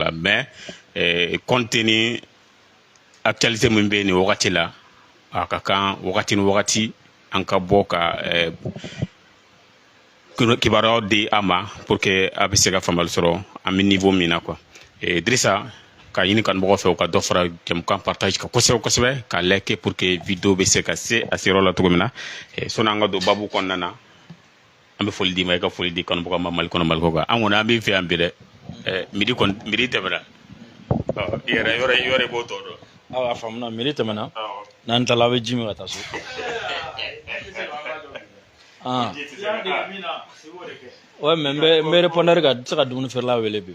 la mais eh, compte tenu actualité min bɛ nin wagati la a ka kan wagati ni wagati an ka bɔ ka eh, kibaruyaw di a ma pour que a bɛ se ka faamuyali sɔrɔ an bɛ niveau min na quoi eh, Dirisa ka ɲini kanubagaw fɛ u ka dɔ fara jɛmukan partage kan kosɛbɛ kosɛbɛ k'a liker pour que vidéo bɛ se ka se a seyɔrɔ la cogo min na eh, sɔnni an ka don babu kɔnɔna na an bɛ foli d'i ma i ka foli di kanubagaw ma mali kɔnɔ mali kɔ kan an kɔni an b'i fɛ yan bi dɛ midi kɔni midi tɛmɛna i yɛrɛ yɔrɔ yɔrɔ i b'o tɔ dɔn awa a faamuna midi tɛmɛna n'an tilala aw bɛ ji min ka taa so ouais mais n bɛ n bɛ répondre ka se ka dumuni feerela wele bi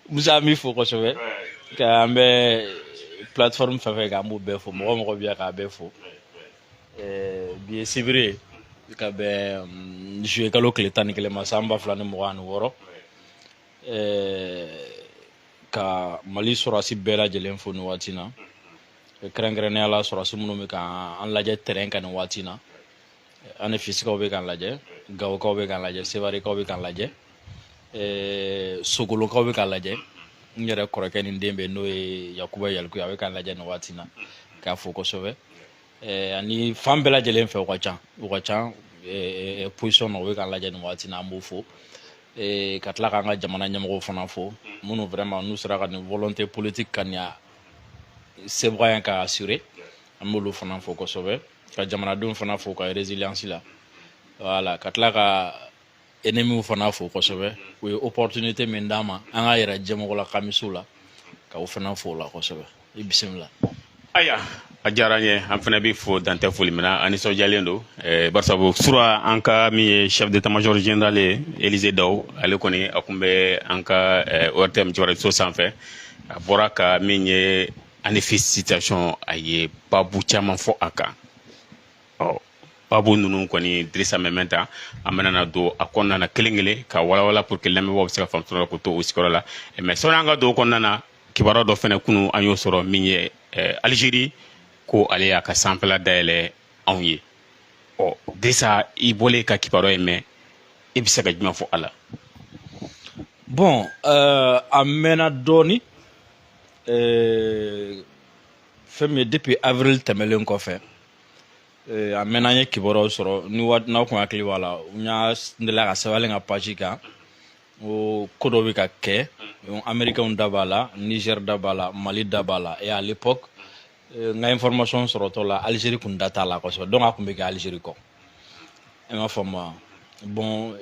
musa n b'i fo kosɛbɛ ka an bɛ plateforme fɛn fɛn kan an b'u bɛɛ fo mɔgɔ o mɔgɔ bɛ yan k'a bɛɛ fo bi ye sibiri ye ka bɛn mm, juillet kalo tile tan ni kelen ma san ba fila ni mugan ani wɔɔrɔ ka mali sɔrɔdasi bɛɛ lajɛlen fo nin waati na kɛrɛnkɛrɛnnenya la sɔrɔdasi minnu bɛ ka an lajɛ terrain kan nin waati na anefisikaw bɛ k'an lajɛ gawokaw bɛ k'an lajɛ sewarekaw bɛ k'an lajɛ eh, sogolokaw bɛ k'an lajɛ n yɛrɛ kɔrɔkɛ ni den bɛ n'o ye yakuba yalikuye a bɛ k'an lajɛ nin waati na k'a fo kosɛbɛ eh, ani fan bɛɛ lajɛlen fɛ u ka ca u ka ca eh, position na u bɛ k'an lajɛ nin waati na an b'u fo ka tila k'an ka jamana ɲɛmɔgɔw fana fo minnu vraiment n'u sera ka nin volonté politique ka nin sebaaya ka assurer an b'olu fana fo kosɛbɛ ka jamanadenw fana fo ka résilience la voilà ka tila ka ennemiw fana fo kosɛbɛ u ye opportunité min d'an ma an k'a yira diɲɛ mɔgɔ la k'an bɛ se u la ka u fana fo o la kosɛbɛ i bisimila ayiwa a diyara n ye an fana bɛ fo dan tɛ foli min na an nisɔndiyalen don eh, barisabu sura an ka min ye chef d'état-major général ye élisée dao ale kɔni a tun bɛ an ka eh, ortm jabaraninso sanfɛ a bɔra ka min ye anefisi situation a ye babu caman fɔ a kan ɔ babu ninnu kɔni dirisa mɛmɛnta an bɛna don a kɔnɔna na kelen kelen ka walawala pour que lamɛnbaaw bɛ se ka faamu sɔrɔ k'u to u sigiyɔrɔ la mais sɔnni an ka don o kɔnɔna na kibaruya dɔ fana kunu an y'o sɔrɔ min ye alizeri ko ale y'a ka sanfɛla dayɛlɛ anw ye ɔ dirisa i bɔlen ka kibaruya in mɛn i bɛ se ka jumɛn fɔ a la bon a mɛnna dɔɔni Euh, fɛn min ye depuis avril tɛmɛlen kɔfɛ euh, a mɛnna an ye kibaruyaw sɔrɔ ni waati n'aw kun hakili b'a la n y'a n delila k'a sɛbɛn ne ka page kan ko ko dɔ bɛ ka kɛ américainw da b'a la niger da b'a la mali da b'a la et à l'époque euh, n ka information sɔrɔtɔ la algérie kun da t'a la kosɛbɛ donc a kun bɛ kɛ algérie kɔ i m'a faamu wa bon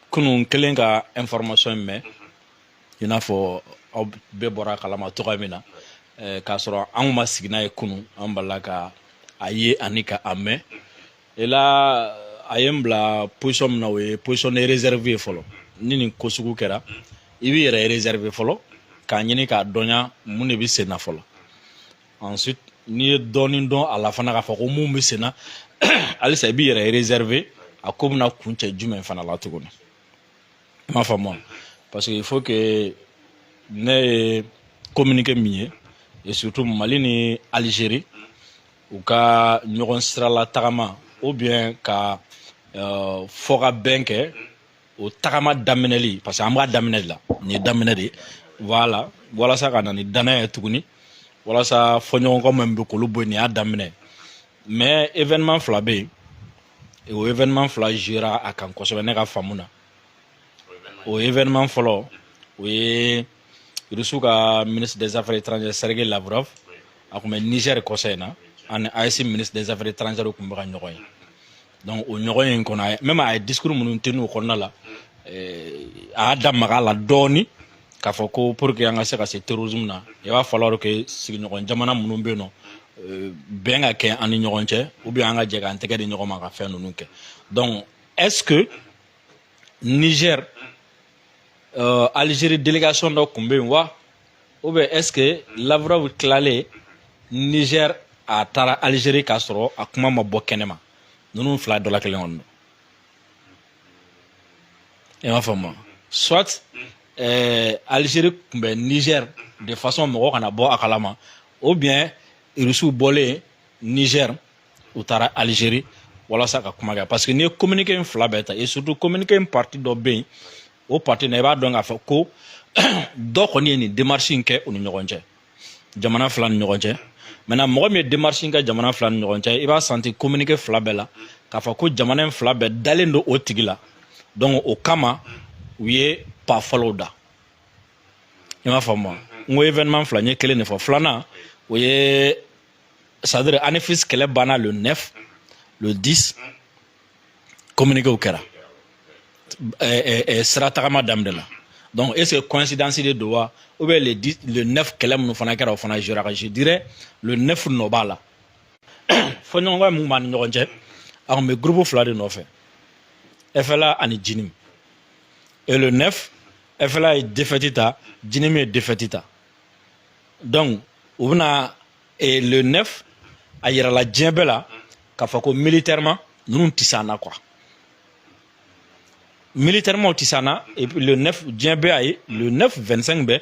kunun kɛlen ka information in mɛn i n'a fɔ aw bɛɛ bɔra kalama cogoya min na k'a sɔrɔ anw ma sigi n'a ye kunu an balila ka a ye ani ka a mɛn et là a ye n bila position min na o ye position de réserve ye fɔlɔ ni nin ko sugu kɛra i b'i yɛrɛ réserve fɔlɔ k'a ɲini k'a dɔnya mun de bɛ sen na fɔlɔ ensuite n'i ye dɔɔnin dɔn a la fana k'a fɔ ko mun bɛ sen na halisa i b'i yɛrɛ réserve a ko bɛna kuncɛ jumɛn fana la tuguni i m'a faamu wa parce que il faut que ne ye communiqué min ye et surtout mali ni algérie u ka ɲɔgɔn sirala tagama ou bien ka euh, fɔ ka bɛn kɛ o tagama daminɛli parce que an b'a daminɛ de la nin ye daminɛ de ye voilà walasa ka na ni danaya ye tuguni walasa fɔɲɔgɔnkɔ min bɛ k'olu bɔ yen nin y'a daminɛ mais événement fila bɛ yen o événement fila jouera a kan kosɛbɛ ne ka faamu na o événement fɔlɔ o ye rusiw ka ministre des affaires étrangères sergei lavrov a tun bɛ niger kɔsa in na ani AES ministre des affaires étrangères tun bɛ ka ɲɔgɔn ye donc o ɲɔgɔnye in kɔnɔ même a ye discours minnu tenu o kɔnɔna la a y'a da maga a la dɔɔni k'a fɔ ko pour que an ka se ka se terrorisme na i b'a falloir que sigiɲɔgɔn jamana minnu bɛ yen nɔ euh, bɛn ka kɛ an ni ɲɔgɔn cɛ ou bien an ka jɛ k'an tɛgɛ di ɲɔgɔn ma ka fɛn ninnu kɛ donc est ce que niger euh, algérie délégation dɔ tun bɛ yen wa ou bien est ce que lavrov tilalen niger a taara algérie k'a sɔrɔ a kuma ma bɔ kɛnɛma ninnu fila dɔ la kelen kɔni don i m'a faamu soit eh, Algérie tun bɛ Niger de façon mɔgɔ kana bɔ a kalama ou bien Russiw bɔlen Niger u taara Algérie walasa ka kuma kɛ parce que n'i ye communiqué in fila bɛɛ ta et surtout communiqué in partie dɔ bɛ yen o partie na i b'a dɔn k'a fɔ ko dɔ kɔni ye nin démarche in kɛ u ni ɲɔgɔn cɛ jamana fila ni ɲɔgɔn cɛ maintenant mɔgɔ min ye démarche in kɛ jamana fila ni ɲɔgɔn cɛ i b'a senti communiqué fila bɛɛ la k'a fɔ ko jamana in fila bɛɛ dalen don o tigi la donc o kama u ye pas fɔlɔw da i m'a faamu n ko événement fila n ye kelen de fɔ filanan o ye c'est-à-dire Anefis kɛlɛ banna le 9 le 10 communiquéw kɛra sira tagama daminɛ la donc est ce que coïncidence de don wa ou bien le 9 kɛlɛ minnu fana kɛra o fana jouera a kan je dirais le 9 nɔ b'a la fɔɲɔgɔnkɔ min b'an ni ɲɔgɔn cɛ a tun bɛ groupe fila de nɔfɛ FLA ani JNIM et le 9 FLA ye défaite ta JNIM ye défaite ta donc u bɛna et le 9 a yirala diɲɛ bɛɛ la k'a fɔ ko militairement ninnu tɛ s'an na quoi militairement u tɛ s'an na et puis le 9 diɲɛ bɛɛ y'a ye le 9 25 bɛɛ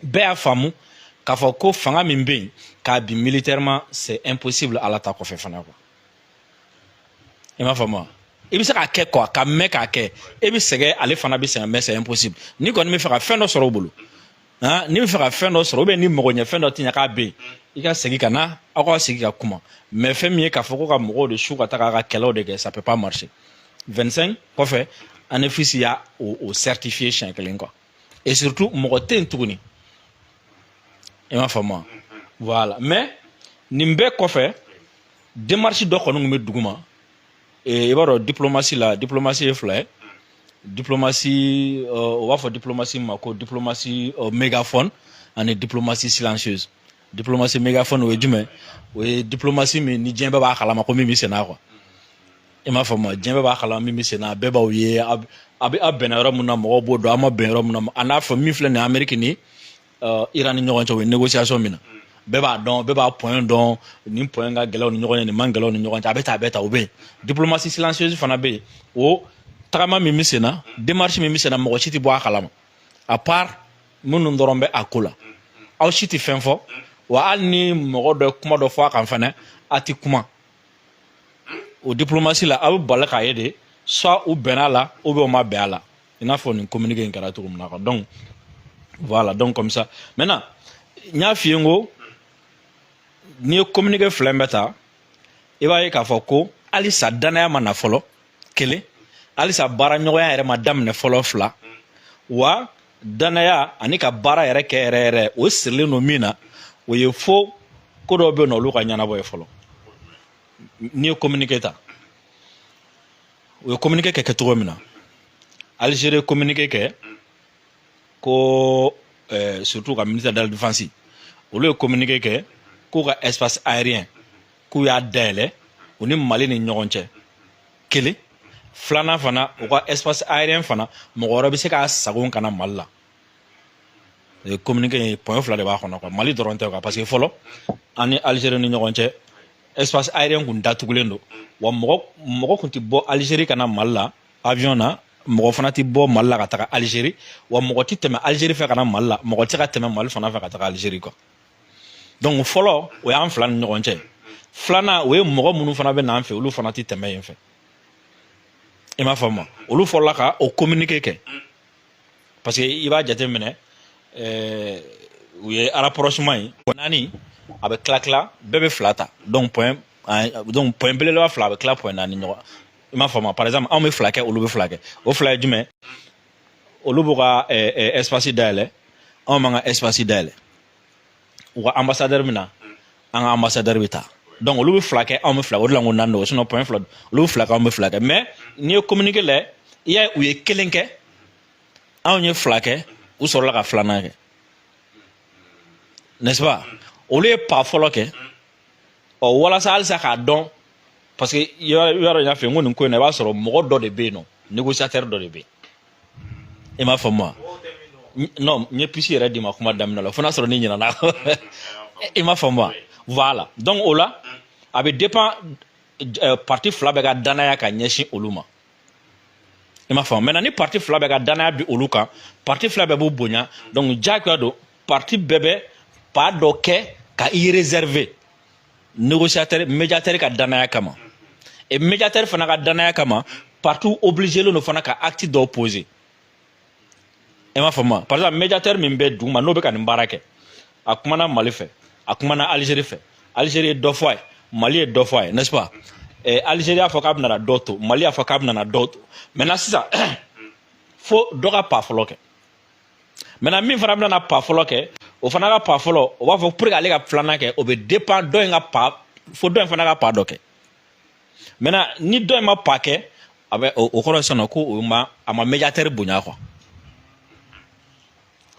bɛɛ y'a faamu k'a fɔ ko fanga min bɛ yen k'a bin militairement c'est impossible ala ta kɔfɛ fana quoi i m'a faamu wa i bɛ se k'a kɛ quoi ka mɛn k'a kɛ e bɛ sɛgɛn ale fana bɛ sɛgɛn mais c'est impossible n'i kɔni bɛ fɛ ka fɛn dɔ sɔrɔ o bolo. han n'i bɛ fɛ ka fɛn dɔ sɔrɔ ou bien ni mɔgɔ ɲɛ fɛn dɔ tɛ ɲɛ k'a bɛ yen i ka segin ka na aw ka segin ka kuma mais fɛn min ye k'a fɔ ko ka mɔgɔw de su ka taga ka kɛlɛw de kɛ ça peut pas marcher 25 kɔfɛ Anéfis y'a o, o certifier siɲɛ kelen quoi et surtout mɔgɔ tɛ yen tuguni i m'a faamu wa voilà mais nin bɛɛ kɔfɛ démarche dɔ kɔni tun bɛ duguma i b'a dɔn diplomatie la diplomatie ye fila ye diplomatie u b'a fɔ diplomatie ma ko diplomatie mégaphone ani diplomatie silencieuse diplomatie mégaphone o ye jumɛn o ye diplomatie min ni diɲɛ bɛɛ b'a kalama ko min bɛ senna quoi i m'a faamu diɲɛ bɛɛ b'a kalama min bɛ senna bɛɛ b'aw ye a bɛ aw bɛnna yɔrɔ min na mɔgɔw b'o dɔn aw ma bɛn yɔrɔ min na a n'a fɔ min filɛ nin ye ameriki ni Iran ni ɲɔgɔn cɛ u ye négociation min na bɛɛ b'a dɔn bɛɛ b'a point dɔn nin point ka gɛlɛn u ni ɲɔgɔn cɛ nin man gɛlɛn u ni ɲɔgɔn cɛ a bɛ ta a bɛ ta o bɛ yen diplomatie silencieuse fana bɛ yen o tagama min bɛ sen na démarche min bɛ sen na mɔgɔ si tɛ bɔ a kalama à part minnu dɔrɔn bɛ a ko la aw si tɛ fɛn fɔ wa hali ni mɔgɔ dɔ ye kuma dɔ fɔ a kan fana a tɛ kuma o diplomatie la aw bɛ bali k'a ye de soit u bɛnna a la ou bien u ma bɛn a la i n'a fɔ nin communiqué in kɛra cogo min na quoi donc voilà donc comme ça maintenant n y'a f'i ye n ko n'i ye communiqué fila in bɛɛ ta i b'a ye k'a fɔ ko halisa dannaya ma na fɔlɔ kelen halisa baaraɲɔgɔnya yɛrɛ ma daminɛ fɔlɔ fila wa dannaya ani ka baara yɛrɛ kɛ yɛrɛ yɛrɛ o sirilen don min na o ye fo ko dɔw bɛ yen nɔ olu ka ɲɛnabɔ ye fɔlɔ n'i ye communiqué ta u ye communiqué kɛ kɛcogo min na Algérie communiqué kɛ ko euh, surtout ka ministère de la défense olu ye communiqué kɛ k'u ka espace aérien k'u y'a dayɛlɛ u ni Mali ni ɲɔgɔn cɛ kelen filanan fana u ka espace aérien fana mɔgɔ wɛrɛ bɛ se k'a sagon ka na Mali la communiqué in point fila de b'a kɔnɔ quoi mali dɔrɔn tɛ quoi parce que fɔlɔ an ni algérie ni ɲɔgɔn cɛ espace aérien kun datugulen don wa mɔgɔ mɔgɔ kun ti bɔ algérie ka na mali la avion na mɔgɔ fana ti bɔ mali la ka taga algérie wa mɔgɔ ti tɛmɛ algérie fɛ ka na mali la mɔgɔ ti ka tɛmɛ mali fana fɛ ka taga algérie quoi donc fɔlɔ o y'an fila ni ɲɔgɔn cɛ filanan o ye mɔgɔ minnu fana bɛ n'an fɛ olu fana ti tɛmɛ yen fɛ i m'a faamu olu fɔlɔla ka o communiqué kɛ parce que i b'a jateminɛ ɛɛ eh, u ye rapprochement ye naani a bɛ tila tila bɛɛ bɛ fila ta donc point donc point belebeleba fila a bɛ tila point naani ɲɔgɔn i m'a faamu par exemple anw bɛ fila kɛ olu bɛ fila kɛ o fila ye jumɛn olu b'u ka ɛɛ eh, eh, espace dayɛlɛ anw b'an ka espace dayɛlɛ u ka ambassadeur bɛ na an ka ambassadeur bɛ taa donc olu bɛ fila kɛ anw bɛ fila o de la n ko naani don sinon point fila olu bɛ fila kɛ anw bɛ fila kɛ mais n'i ye communiqué lajɛ i y'a ye u ye kelen kɛ anw ye fila kɛ u sɔrɔla ka filanan kɛ n'est-ce pas olu ye pas fɔlɔ kɛ ɔ walasa halisa k'a dɔn parce que yɔrɔ yɔrɔ n y'a fɔ n ko nin ko in na i b'a sɔrɔ mɔgɔ dɔ de bɛ yen nɔ négociateur dɔ de bɛ yen i m'a faamu wa non n ye piste yɛrɛ d'i ma kuma daminɛ la fo n'a sɔrɔ ni ɲinana i m'a faamu wa voilà donc o la a bɛ dépend euh, parti fila bɛɛ ka danaya ka ɲɛsin olu ma i m'a faamu maintenant ni parti fila bɛɛ ka danaya bi olu kan parti fila bɛɛ b'u bonya donc diyagoya don parti bɛɛ bɛ pas dɔ kɛ ka i réserver négociateur médiateur ka danaya kama et médiateur fana ka danaya kama partout obligélen fana ka acte dɔ poser i m'a faamu par exemple médiateur min bɛ duguma n'o bɛ ka nin baara kɛ a kumana mali fɛ a kumana algérie fɛ algérie ye dɔ fɔ a ye mali ye dɔ fɔ a ye n'est-ce pas eh, algérie y'a fɔ k'a bɛna dɔ to mali y'a fɔ k'a bɛna dɔ to maintenant sisan fo dɔ ka pas fɔlɔ kɛ maintenant min fana bɛna pas fɔlɔ kɛ o fana ka pas fɔlɔ o b'a fɔ pour que ale ka filanan kɛ o bɛ dépend dɔ in ka pas fo dɔ in fana ka pas dɔ kɛ maintenant ni dɔ in ma pas kɛ a bɛ o kɔrɔ sisan ko o ma a ma médiateur bonya quoi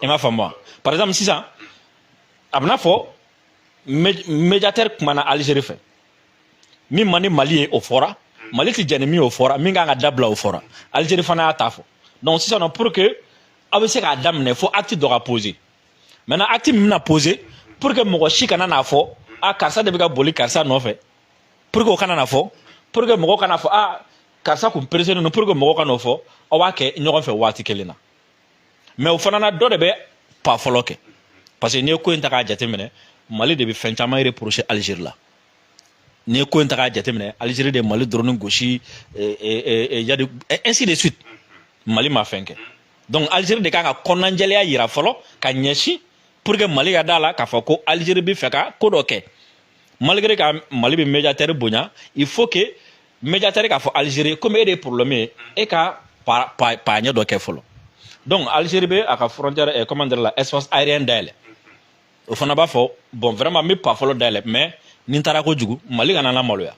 i m'a faamu wa par exemple sisan a bɛna fɔ médiateur kumana Algérie fɛ min man di mali ye o fɔra mm. mali tɛ jɛn ni min o fɔra min kan ka dabila o fɔra algérie fana y'a ta fɔ donc sisan nɔ pour que aw bɛ se k'a daminɛ fo acte dɔ ka poser maintenant acte min bɛna poser pour que mɔgɔ si kana n'a fɔ a karisa de bɛ ka boli karisa nɔfɛ pour que o kana na fɔ pour que mɔgɔ kana fɔ a karisa kun pressélen don pour que mɔgɔ kana o fɔ aw b'a kɛ ɲɔgɔn fɛ waati kelen na mais o fana na dɔ de bɛ pas fɔlɔ kɛ parce que n'i ye ko in ta k'a jateminɛ mali de bɛ fɛn caman reprocher algérie la n'i ye ko in ta k'a jateminɛ algérie de mali drone gosi yadi ainsi de suite mali ma fɛn kɛ donc algérie de kan ka kɔnɔnajɛlenya yira fɔlɔ ka ɲɛsin pour que mali ka da la k'a fɔ ko algérie bɛ fɛ ka ko dɔ kɛ malgré ka mali bɛ médiateur bonya il faut que médiateur k'a fɔ algérie comme e de ye problème ye e ka pas pas pas ɲɛ dɔ kɛ fɔlɔ donc algérie bɛ a ka frontière eh, comment dire la espace aérien dayɛlɛ o fana b'a fɔ bon vraiment n bɛ pas fɔlɔ dayɛlɛ mais ni n taara kojugu mali kana n lamaloya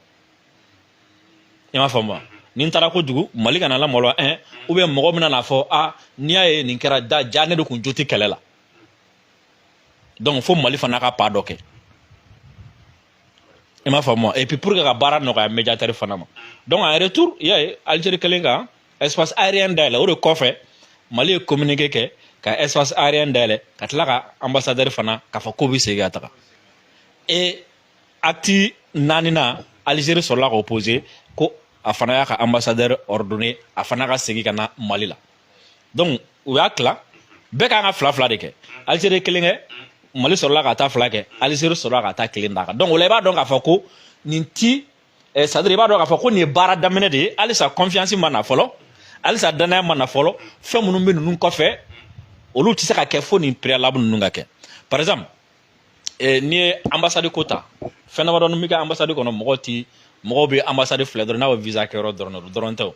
i m'a faamu wa ni n taara kojugu mali kana n lamaloya ɛn ou bien mɔgɔ bɛna n'a fɔ a n'i y'a ye nin kɛra da ja ne de kun jo tɛ kɛlɛ la donc fo mali fana ka pas dɔ kɛ i m'a faamu wa et puis pour que ka baara nɔgɔya médiateur fana ma donc en retour i y'a ye algérie kɛlen ka espace aérien dayɛlɛ o de kɔfɛ mali ye communiqué kɛ ka espace aérien dayɛlɛ ka tila ka ambassadeur fana k'a fɔ k'o bɛ segin ka taga et acte naaninan algérie sɔrɔla k'o poser ko a fana y'a ka ambassadeur ordonné a fana ka segin ka na mali la donc u y'a tila bɛɛ kan ka fila fila de kɛ algérie kelen kɛ mali sɔrɔla ka taa fila kɛ algérie sɔrɔla ka taa kelen d'a kan donc o la i b'a dɔn k'a fɔ ko nin ti eh, c'est-à-dire i b'a dɔn k'a fɔ ko nin ye baara daminɛ de ye halisa confiance ma na fɔlɔ halisa dannaya ma na fɔlɔ fɛn minnu bɛ ninnu kɔfɛ olu tɛ se ka kɛ fo nin préalable ninnu ka kɛ par exemple eh, n'i ye ambassade ko ta fɛn damadɔ min bɛ kɛ ambassade kɔnɔ mɔgɔw ti mɔgɔw bɛ ambassade filɛ dɔrɔn n'a bɛ visa kɛyɔrɔ dɔrɔn dɔrɔn tɛ o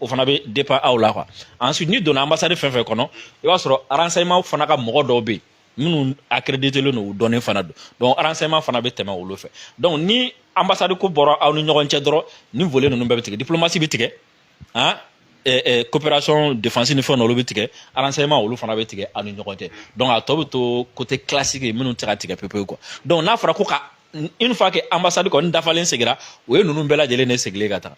o fana bɛ dépend aw la quoi ensuite n'i donna ambassade fɛn fɛn kɔnɔ i b'a sɔrɔ renseignement fana ka mɔgɔ dɔw bɛ yen minnu accrédité len don u dɔnnen fana don donc renseignement fana bɛ tɛmɛ olu fɛ donc ni ambassade ko bɔra aw ni ɲɔgɔn cɛ dɔrɔn nin volet ninnu bɛɛ bɛ tigɛ diplomatie bɛ tigɛ han coopération défense ni fɛn na olu bɛ tigɛ renseignement olu fana bɛ tigɛ aw ni ɲɔgɔn cɛ donc a tɔ bɛ to côté classique ye minnu tɛ ka tigɛ pepewu quoi donc n'a fɔra ko ka une fois que ambassade kɔni dafalen segira o ye ninnu bɛɛ lajɛlen de segilen ka taa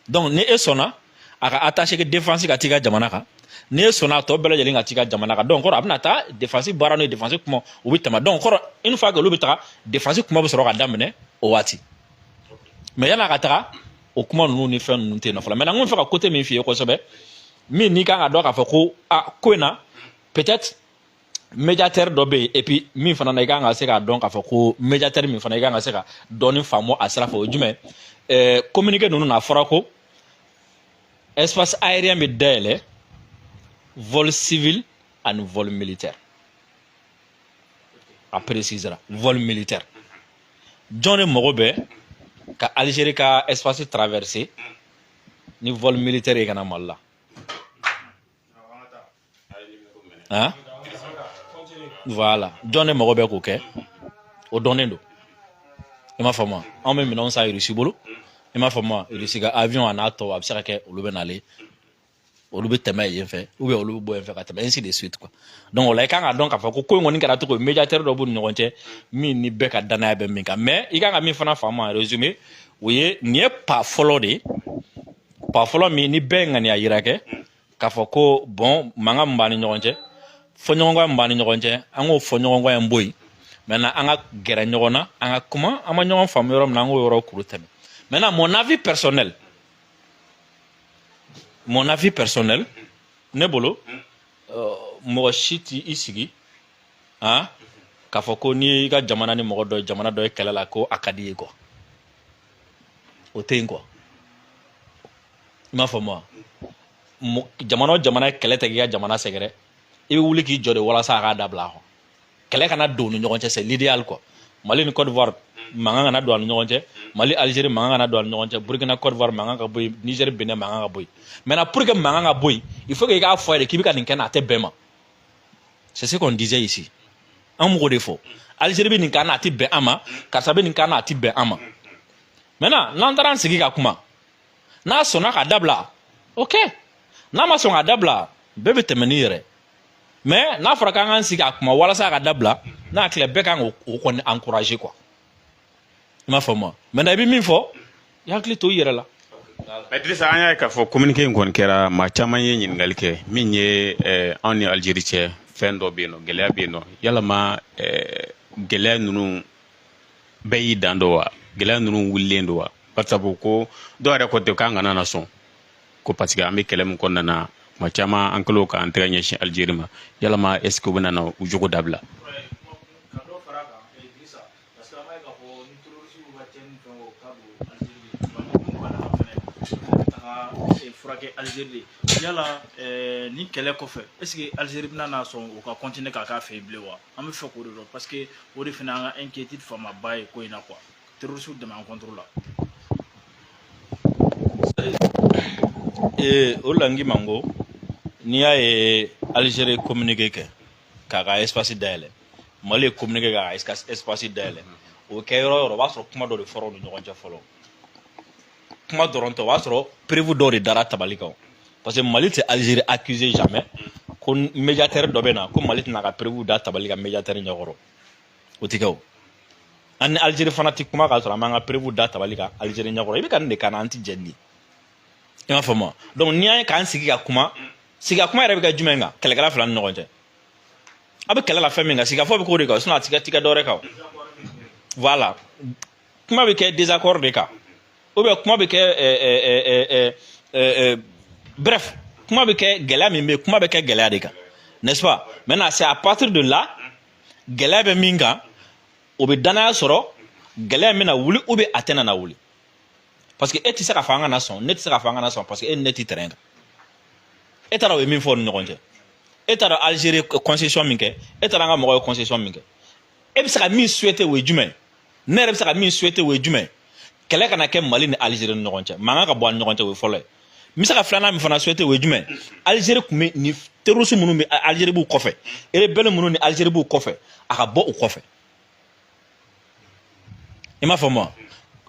donc ni e sɔnna a ka attaché de défense ka t'i ka jamana kan n'e sɔnna a tɔ bɛɛ lajɛlen ka t'i ka jamana kan donc kɔrɔ a bɛna taa défense baara n'o ye défense kuma u bɛ tɛmɛ donc kɔrɔ une fois que olu bɛ taga défense kuma bɛ sɔrɔ ka daminɛ o waati mais yan'a ka taga o kuma ninnu ni fɛn ninnu tɛ yen nɔ fɔlɔ maintenant n b'a fɛ ka côté min f'i ye kosɛbɛ min n'i kan k'a dɔn k'a fɔ ko a ko in na peut-être médiateur dɔ bɛ yen et puis min fana na i kan ka se k'a dɔn k'a fɔ ko médiateur min fana i kan ka se ka dɔɔni faamu a sira fɛ o jumɛn ɛɛ communiqué ninnu na a fɔra ko espace aérien bɛ dayɛlɛ vol civil ani vol militaire a précisera vol militaire jɔn de mago bɛ ka Algérie ka espace traverser ni vol militaire ye ka na Mali la. ah voilà jɔn de mago bɛ k'o kɛ o dɔnnen don i m'a faamu anw bɛ minɛnw san irisi bolo i m'a faamu irisi ka avion a n'a tɔ a bɛ se ka kɛ olu bɛ n'ale olu bɛ tɛmɛ yen fɛ ou bien olu bɛ bɔ yen fɛ ka tɛmɛ ainsi de suite quoi donc o la i kan ka dɔn k'a fɔ ko ko in kɔni kɛra cogo médiateur dɔ b'u ni ɲɔgɔn cɛ min ni bɛɛ ka dannaya bɛ min kan mais i kan ka min fana faamu en résumé o ye nin ye pas fɔlɔ de ye pas fɔlɔ min ni bɛɛ ye ŋaniya yira kɛ k'a fɔ ko bon mankan min b'an ni ɲɔgɔn cɛ fɔɲɔgɔnkɔ min b'an ni ɲɔgɔn cɛ an k'o fɔɲɔgɔnkɔ in bɔ yen maintenant an ka gɛrɛ ɲɔgɔn na an ka kuma an ma ɲɔgɔn faamu yɔrɔ min na an k'o yɔrɔ kuru tɛmɛ maintenant mon avis personnel mon avis personnel ne bolo euh, mɔgɔ si t'i i sigi han k'a fɔ ko n'i y'i ka jamana ni mɔgɔ dɔ ye jamana dɔ ye kɛlɛ la ko a ka di ye quoi o tɛ yen quoi i m'a faamu wa jamana o jamana ye kɛlɛ tɛ k'i ka jamana sɛgɛrɛ i bɛ wuli k'i jɔ de walasa a k'a dabila quoi kɛlɛ kana don u ni ɲɔgɔn cɛ c'est l'idéal quoi mali ni côte d'ivoire mankan kana don a ni ɲɔgɔn cɛ mali algérie mankan kana don a ni ɲɔgɔn cɛ burkina côte d'ivoire mankan ka bɔ yen niger benin mankan ka bɔ yen maintenant pour que mankan ka bɔ yen il faut que i k'a fɔ a ye de k'i bɛ ka nin kɛ n na a tɛ bɛn n ma c'est ce qu'on disait ici an m'o de fɔ Algérie bɛ nin k'an na a tɛ bɛn an ma karisa bɛ nin k'an na a tɛ bɛn an ma maintenant n'an taara an sigi ka kuma n'a sɔnna ka dabila ok n'a ma sɔn ka dabila bɛɛ bɛ tɛmɛ n'i yɛrɛ mais n'a fɔra k'an k'an sigi ka kuma walasa a ka dabila ne hakili la bɛɛ kan k'o kɔni encourager quoi i m'a faamu maintenant i bɛ min fɔ i hakili to i yɛrɛ la Idrissa an y'a ye k'a fɔ communiqué in kɔni kɛra maa caman ye ɲininkali kɛ min ye eh, anw ni Algérie cɛ fɛn dɔ bɛ yen nɔ gɛlɛya bɛ yen nɔ yalama eh, gɛlɛya ninnu bɛɛ y'i dan dɔ wa gɛlɛya ninnu wulilen don wa bari sabu ko dɔw yɛrɛ ko ten k'an kana na sɔn ko parce que an bɛ kɛlɛ min kɔnɔna na tuma caman an kɛlen k'an tɛgɛ ɲɛsin Algérie ma yalama est ce que u bɛna na u jogo dabila furakɛ Algérie de yala eh, ni kɛlɛ kɔfɛ est ce que Algérie bɛna na sɔn u ka continuer k'a k'a fɛ yen bilen wa an b'a fɛ k'o de dɔn parce que o de fana an ka inquiétude fanba ye ko in na quoi terroristes dɛmɛ an contre la ee o la n k'i ma n ko n'i y'a ye Algérie communiqué kɛ k'a ka espace dayɛlɛ mali ye communiqué k'a ka espace dayɛlɛ o kɛ yɔrɔ o yɔrɔ o b'a sɔrɔ kuma dɔ de fɔra u ni ɲɔgɔn cɛ fɔlɔ kuma dɔrɔn tɛ o b'a sɔrɔ preuve dɔw de dara tabali kan parce que mali tɛ Algérie accuser jamais ko médiateur dɔ bɛ na ko mali tɛna ka preuve da tabali kan médiateur ɲɛkɔrɔ o tɛ kɛ o an ni Algérie fana tɛ kuma k'a sɔrɔ an m'an ka preuve da tabali kan Algérie ɲɛkɔrɔ i bɛ ka nin de kan an tɛ jɛn nin i m'a faamu donc n'i y'a ye k'an sigi ka kuma sigi ka kuma yɛrɛ bɛ kɛ jumɛn kan kɛlɛkɛla fila ni ɲɔgɔn cɛ a bɛ kɛlɛ la fɛn min kan sigikafɔ bɛ k'o de kan sinon a tɛ kɛ a tɛ kɛ dɔ wɛrɛ kan voilà kuma bɛ kɛ désaccord de kan ou bien kuma bɛ kɛ ɛɛ ɛɛ ɛɛ ɛɛ bref kuma bɛ kɛ gɛlɛya min bɛ kuma bɛ kɛ gɛlɛya de kan n'est-ce pas maintenant c'est à partir de là gɛlɛya bɛ min kan o bɛ danaya sɔrɔ gɛlɛya bɛna wuli ou bien a tɛna na wuli parce que e tɛ se k'a fɔ an kana sɔn ne tɛ se k'a fɔ an kana sɔn parce que e ni ne tɛ terrain kan e t'a dɔn u ye min fɔ u ni ɲɔgɔn cɛ e t'a dɔn Algérie concession min kɛ e t'a dɔn an ka mɔgɔw ye concession min kɛ e bɛ se ka min souhaiter o ye jumɛn ye ne yɛrɛ bɛ se ka min souhaiter o ye jumɛn kɛlɛ kana kɛ mali ni alizeri ni ɲɔgɔn cɛ mankan ka bɔ an ni ɲɔgɔn cɛ o ye fɔlɔ ye n bɛ se ka filanan min fana souhaiter o ye jumɛn alizeri tun bɛ ni terroristes minnu bɛ alizeri b'u kɔfɛ erebɛli minnu ni alizeri b'u kɔfɛ a ka bɔ u kɔfɛ i m'a faamu wa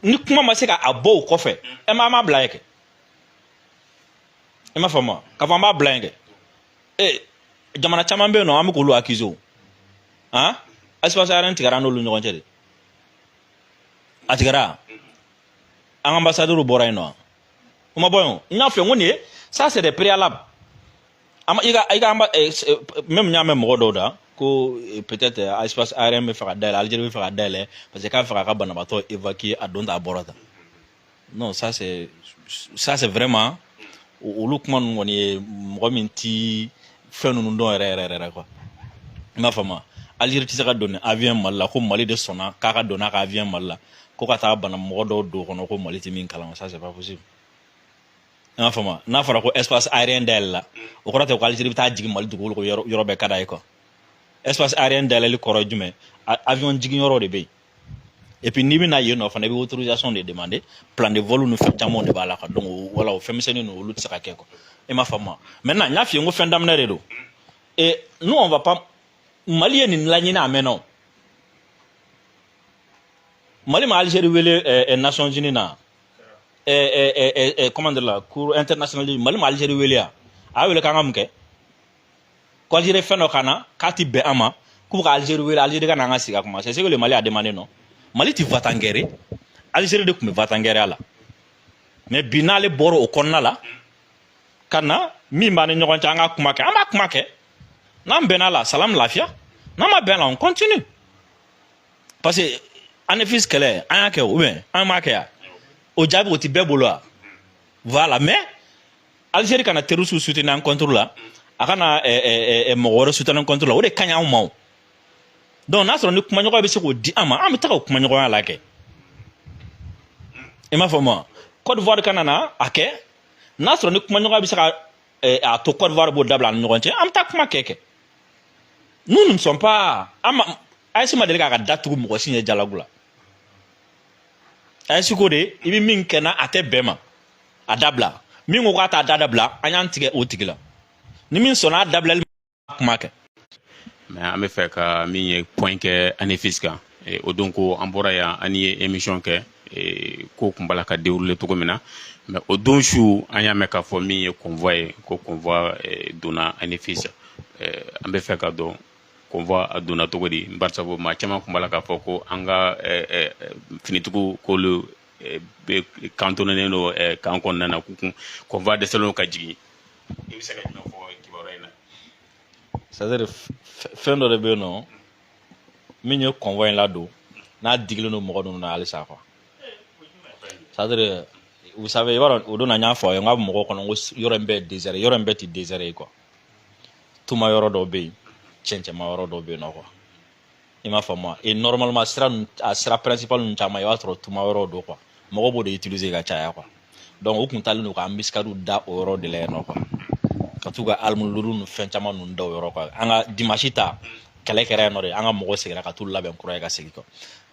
ni kuma ma se ka a bɔ u kɔfɛ ɛ mais an b'a bila yen kɛ i m'a faamu wa k'a fɔ an b'a bila yen kɛ ee jamana caman bɛ yen nɔ an bɛ k'olu accuser o han espace aérien tigɛra an n'olu ɲɔgɔn cɛ de a tigɛra an ka anbasadɛriw bɔra yen nɔ wa o ma bɔ yen o n y'a fɔ n ko nin ye ça c'est des préalables an i ka i ka anba eh, eh, même n y'a mɛn mɔgɔ dɔw da ko eh, peut-être eh, espace aérien bɛ fɛ ka dayɛlɛ algérie bɛ fɛ ka dayɛlɛ parce que k'a bɛ fɛ k'a ka banabaatɔ évacuer a don tan a bɔra tan non ça c'est ça c'est vraiment olu kuma ninnu kɔni ye mɔgɔ min ti fɛn ninnu dɔn yɛrɛ yɛrɛ yɛrɛ quoi i m'a faamu Algérie tɛ se ka don ni avion Mali la ko Mali de sɔnna k'a ka don n'a ka avion Mali la ko ka taa bana mɔgɔ dɔw don kɔnɔ ko Mali tɛ min kalama ça c'est pas possible i m'a faamu n'a fɔra ko espace aérien dayɛlɛla o kɔrɔ tɛ ko Algérie bɛ taa jigin Mali dugukolo kan yɔrɔ yɔrɔ bɛɛ ka d'a ye quoi espace aérien dayɛlɛli kɔrɔ ye jumɛn avion jigin yɔrɔ de bɛ yen et puis n'i bɛ na yen nɔ fana i bɛ autorisation de demander plan de vol ni fɛn caman de b'a la quoi donc voilà o fɛn misɛnnin ninnu olu tɛ se ka kɛ quoi i m'a faamu wa maintenant n y'a f'i ye n ko fɛn daminɛ de don et nous on va pas mali ye nin laɲini a mɛnna o mali ma algérie wele eh, eh, nations unies na eh, comment dire la cour internationale mali ma algérie wele ya a y'a wele k'an ka mun kɛ ko alizeri fɛn dɔ k'an na k'a ti bɛn an ma k'u ka alizeri wele alizeri ka na an ka sigi ka kuma c'est ce que le mali a demandé non mali ti va-t-en-guerre ye alizeri de tun bɛ va-t-en-guerreya la mais bi n'ale bɔra o kɔnɔna la ka na min b'an ni ɲɔgɔn cɛ an ka kuma kɛ an b'a kuma kɛ n'an bɛnna la salam lafiya n'an ma bɛn la on continue parce que anefis kɛlɛ an y'a kɛ ou bien an m'a kɛ ya o jaabi o ti bɛɛ bolo wa voilà mais alizeri kana terroristes soutenir an contre la a kana eh, eh, eh, mɔgɔ wɛrɛ soutenir an contre la o de ka ɲi anw ma o donc n'a sɔrɔ ni kumaɲɔgɔnya bɛ se k'o di an ma an bɛ taga o kumaɲɔgɔnya la kɛ i m'a faamu a côte d'ivoire kana na a kɛ n'a sɔrɔ ni kumaɲɔgɔnya bɛ se ka a to côte d'ivoire b'o dabila an ni ɲɔgɔn cɛ an bɛ taa kuma kɛ kɛ nous ne sommes pas an ma Assimi ma deli k'a ka da tugu mɔgɔ si ɲɛ dialogue la ɛsi ko de i bɛ min kɛ na a tɛ bɛn ma a dabila min ko k'a t'a da dabila an y'an tigɛ o tigi la ni min sɔnna a dabilali ma kuma kɛ. mais an bɛ fɛ ka min ye point kɛ Anéfis kan e, o don ko an bɔra yan an ye émission kɛ e, ko kun b'a la ka dérouler cogo min na mais o don su an y'a mɛn k'a fɔ min ye convoi ye ko convoi e, donna Anéfis an bɛ fɛ ka dɔn convoi a donna cogo di barisa ko maa caman kun b'a la k'a fɔ ko an ka finitigiw k'olu kantonenen don camp kɔnɔna na k'u kun convoi dɛsɛlen ka jigin i bɛ se ka jumɛn fɔ kibaruya in na c'est à dire fɛn dɔ de bɛ yen nɔ min ye convoi in ladon n'a digilen don mɔgɔ ninnu na halisa quoi c'est à dire vous savez i b'a dɔn o don na n y'a fɔ a ye n k'a bɛ mɔgɔw kɔnɔ ko yɔrɔ in bɛɛ ye désert yɔrɔ in bɛɛ tɛ désert ye quoi tuma yɔrɔ dɔ bɛ yen cɛncɛnma yɔrɔ dɔ bɛ yen nɔ quoi i m'a faamu wa et normalement sira ninnu a sira principal ninnu caman i b'a sɔrɔ tuma yɔrɔw don quoi mɔgɔ b'o de utiliser ka caya quoi donc u kun taalen don ka embuscadew da o yɔrɔ de la yen nɔ quoi ka t'u ka armes lourdes ni fɛn caman ninnu da o yɔrɔ quoi an ka dimanche ta kɛlɛ kɛra yen nɔ de an ka mɔgɔw seginna ka t'u labɛn kura ye ka segin quoi